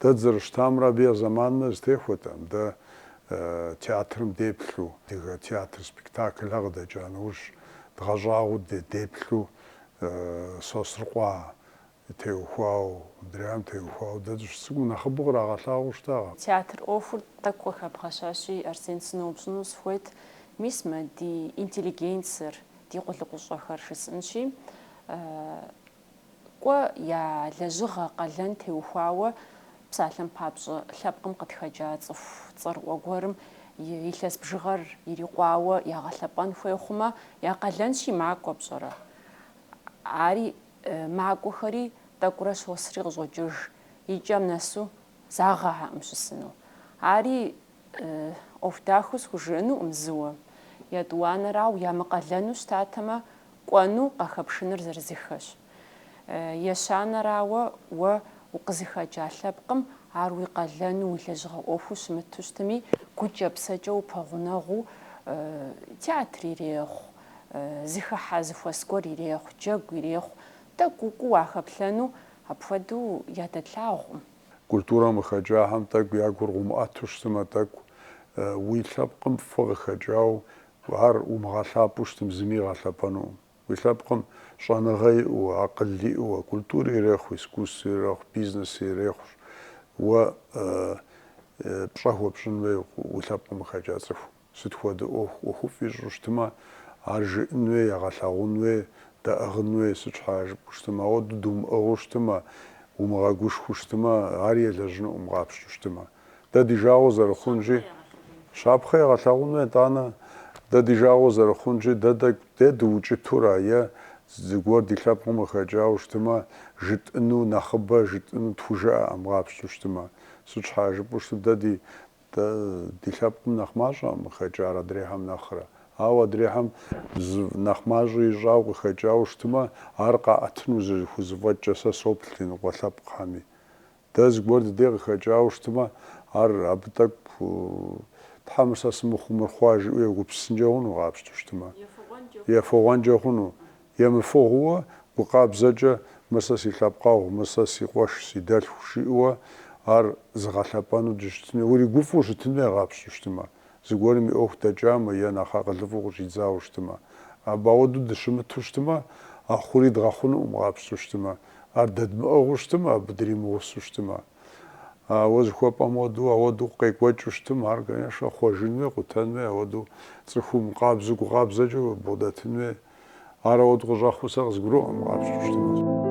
Дэ дызэрыщытамрэ абы я зэманымрэ зытехуэтэм, дэ театрым деплъу. Адыгэ театр спектаклхэр къыдэкӏа нэужь, дгъэщӏагъуэу деплъу Сосрыкъуэ теухуауэ, мыдрейм теухуауэ дэ дыщыцӏыкӏум нэхъыбэу кърагъэлъагъуэу щытакъэ. Театр ӏуэхур тӏэкӏу къыхэбгъэщащи, Арсен, сыноупщӏыну сыхуейт, мис мы ди интеллигенцэр, ди къулыкъущӏэхэр жысӏэнщи, Кӏуэ я лэжьыгъэ къалэн теухуауэ псалъэм папщӏэ лъэпкъым къытхэкӏа цӏыху цӏэрыӏуэ гуэрым и илъэс бжыгъэр ирикъуауэ ягъэлъэпӏэн хуей хъумэ, я къалэнщи макӏуэ пщӏэрэ? Ари макӏуэхэри тӏэкӏурэ щосри къыщӏокӏыж, и кӏэм нэсу загъэхьэкъым щысыну. Ари ӏуэху дахэу схужыӏэнукъым зыуэ. Етӏуанэрауэ, ямыкъалэну щытатэмэ, Кӏуэну къахэпшыныр зырызыххэщ. Ещанэрауэ, уэ укъызыхэкӏа лъэпкъым ар уи къалэну, уи лэжьыгъэ ӏуэхуу щымыту щытми, гукӏэ-псэкӏэ упэгъунэгъуу, театр ирехъу, зыхыхьэ зыхуэс гуэр ирехъу, джэгу ирехъу, тӏэкӏу укӏуу уахэплъэну апхуэдэу ядэтлъагъукъым. Культурэм къыхэкӏахэм тӏэкӏу я гур къыумыӏэту щытымэ, тӏэкӏу уи лъэпкъым фӏы къыхэкӏауэ Ар умыгъэлъапӏэу щытым зыми игъэлъэпӏэнукъым. Уи лъэпкъым щӏэныгъэ иӏэу, акъыл иӏэу, культурэ ирехъу, искусствэ ирехъу, бизнес ирехъущ. Уэ пщӏэ хуэпщӏын хуей уи лъэпкъым къыхэкӏа цӏыху. Сыт хуэдэ ӏуэху, ӏуэхуфӏ ищӏу щытымэ, ар жыӏэн хуей, ягъэлъэгъун хуей, дэӏыгъын хуей. Сыт щхьа жыпӏэу щытымэ, ауэду думыӏыгъыу щытымэ, умыгъэгушхуэу щытымэ, ари елэжьынукъым къапщту щытымэ. дэ ди жагъуэ зэрыхъунщи, щапхъэ егъэлъагъуну, етӏанэ, дэ ди жагъуэ зэрыхъунщи, дэ тӏэкӏу де дыукӏытура е зыгуэр ди лъэпкъым къыхэкӏауэ щытымэ, жытӏыну нэхъыбэ, жытӏыну тхужыӏэӏым къапщту щытымэ? Сыт щхьа жыпӏэу щытым дэ ди дэ ди лъэпкъым нэхъ мащӏэӏым къыхэкӏар адрейхэм нэхърэ? Ауэ адрейхэм зы нэхъ мащӏэ ищӏауэ къыхэкӏауэ щытымэ, ар къаӏэтыну зэрыхузэфӏэкӏкӏэ сэ соплъ ди ныкъуэ лъэпкъхэми. Дэ зыгуэр дыдей къыхэкӏауэ щытмэ, ар абы тӏэкӏу Тхьэ мыр сэ сымыхъуу мыр хъуа жиӏэу егупсысынкӏэ хъуну къапщтэу щытмэ? Ефыгъуэнкӏэ хъуну? Емыфыгъууэ, гу къабзэкӏэ мыр сэ си лъэпкъэгъу, мыр сэ си къуэш, си дэлъху жиӏэуэ ар зыгъэлъэпӏэну дыщытыну, уригуфӏу щытын хуей къапщту щытмэ? Зыгуэрым и ӏуэху дэкӏамэ е нэхъ акъылыфӏу къыщӏидзауэ щытмэ? Абы ауэдэу дыщымыту щытмэ, а хъури дгъэхъунукъым къапщту щытмэ? Ар дэдмыӏыгъыу щытмэ, абы дримыгъусу щытмэ. Ауэ зыхуэпӏэм хуэдэу, ауэдэу къекӏуэкӏыу щытмэ, ар, конечно, хъуэжын хуей, къутэн хуей, ауэдэу цӏыхум къабзэу, гукъабзэкӏэ бгъудэтын хуей. Ар ауэдэу къыщӏэхъуу сэ къызгуроӏуэм, къапщтэу щытмэ.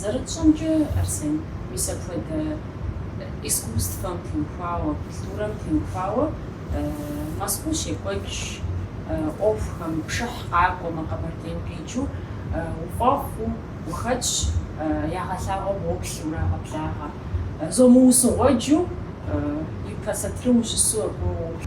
Зэрытщӏэмкӏэ, Арсен, мис апхуэдэ искусствэм теухуауэ, культурэм теухуауэ Мэзкуу щекӏуэкӏ ӏуэхухэм пшыхь къакӏуэмэ, Къэбэрдейм къикӏыу уфӏэхъуу ухэтщ, ягъэлъагъуэм уоплъи урагъэблагъэ, зомыусыгъуэджу, ипэ сатырым ущысу абы уоплъ.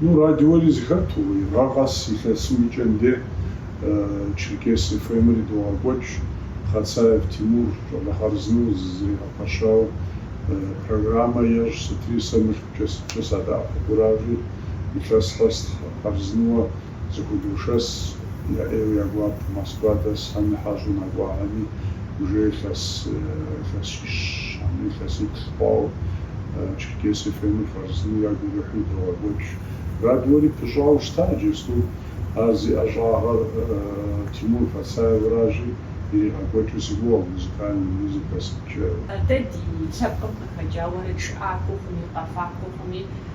Ну, радиори зыхэту, гъэ къэс илъэсым и кӏэм де Черкес FM-ри догъэкӏуэкӏ, Хъацаев Тимур щӏалэ хъарзынэу зэригъэпэщауэ программэ ещӏ, сытри сэ мылъкукӏэ сыткӏэ садэӏэпыкъуращи, илъэс къэс хъарзынэуэ. Зыхудошэс, я ӏейуэ я гуапэ Москва дэсхэми хьэщӏэу нэкӏуахэми уже илъэс илъэсищ хьэмэ илъэсиплӏ хъуауэ Черкес ФМ-ыр хъарзынэу ягу ирихьыу догъэкӏуэкӏ. Радиори пыщӏауэ щыта иджысту ар зи ӏэщӏагъэр Тимур Хъацаевращи иригъэкӏуэкӏыу сыгугъэ музыкальный музыка сыткӏэ. Дэ ди лъэпкъым къыхэкӏа уэрэджыӏакӏуэхэми, къэфакӏуэхэми.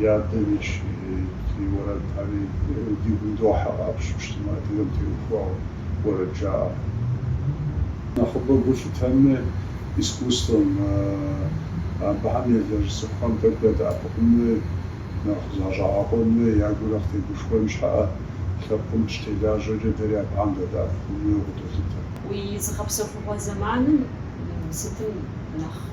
и адэм и щхьэхейт, и уэрэдхэри ди гум дохьэ къапщту щытмэ, адыгэм теухуауэ уэрэд жаӏэхэм нэхъыбэ гу лъытэмэ, искусствэм, абыхэм елэжь цӏыхухэм тӏэкӏу ядэӏэпыкъуну, нэхъ защӏэгъэкъуэну я гур нэхъ тегушхуэн щхьэӏэ, лъэпкъым щытелажьэкӏэ дэри абыхэм дадэӏэпыкъуну къыдолъытэ. Уи зыгъэпсэхугъуэ зэманым сытым нэхъ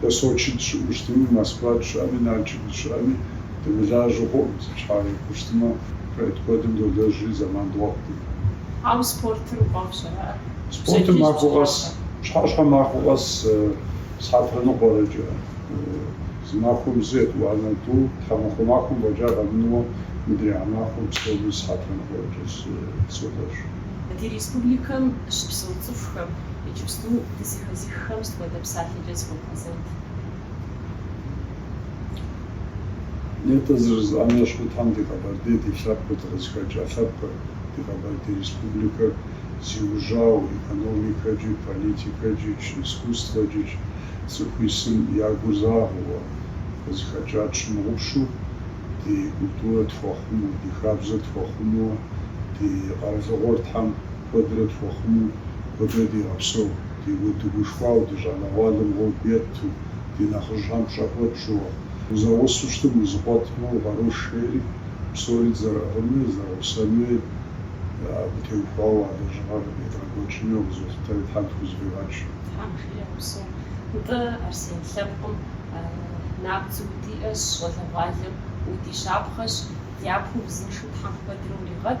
Дэ Сочи дыщыӏэу щытми, Москва дыщыӏэми, Налшык дыщыӏэми, дымылажьэу хъуӏым, сыт щхьэ жыпӏэу щытмэ, проект куэдым долэжьри, зэман дгъуэтӏым. Ауэ спортыр уӏуэху щӏэрыӏэ? Спортым махуэ къэс, пщыхьэщхьэ махуэ къэс схьэтырэ ныкъуэрэкӏэ. Зы махуэм зы етӏуанэ тӏу, тхьэмахуэ махуэм фӏэкӏа къэмынэуэ, мыдрей махуэм псоми схьэтырэ ныкъуэрэкӏэ солэжь. Ди республикэм щыпсэу цӏыхухэм иджыпсту Дызэхэзыххэм сыт хуэдэ псалъэкӏэ зыхуэбгъэзэнт? Нетӏэ зэрыжысӏам ещхьу Тхьэм ди Къэбэрдей ди лъэпкъыр, дыкъызыхэкӏа лъэпкъыр, ди Къэбэрдей Республикэр зиужьауэ экономикэкӏи, политикэкӏич, искусствэкӏич цӏыху исым я гур загъэуэ, къызыхэкӏа тщымыгъупщэу ди культурэ тхуэхъумэу, ди хабзэ тхуэхъумэуэ, ди къэралыгъуэр Тхьэм куэдрэ тхуихъумэу куэдрэ дигъэпсэу, ди дыгушхуауэ, ди щӏалэгъуалэм гъуэгу етту, ди нэхъыжьхэм пщӏэ хуэтщӏууэ. Узэгъусэу щытмэ, узэкъуэтмэ, укъарущ жери, псори дызэрыӏыгъынми, дызэрыгъусэнми абы теухуауэ а лэжьыгъэр къыдедгъэкӏуэкӏыну къызолъытэри Тхьэм тхузэфӏигъэкӏ. Тхьэм жиӏэ, упсэу. Нтӏэ, Арсен, лъэпкъым набдзэу удиӏэщ, щӏалэгъуалэм уди щапхъэщ, дяпэ узыншэу Тхьэм куэдрэ уригъэт.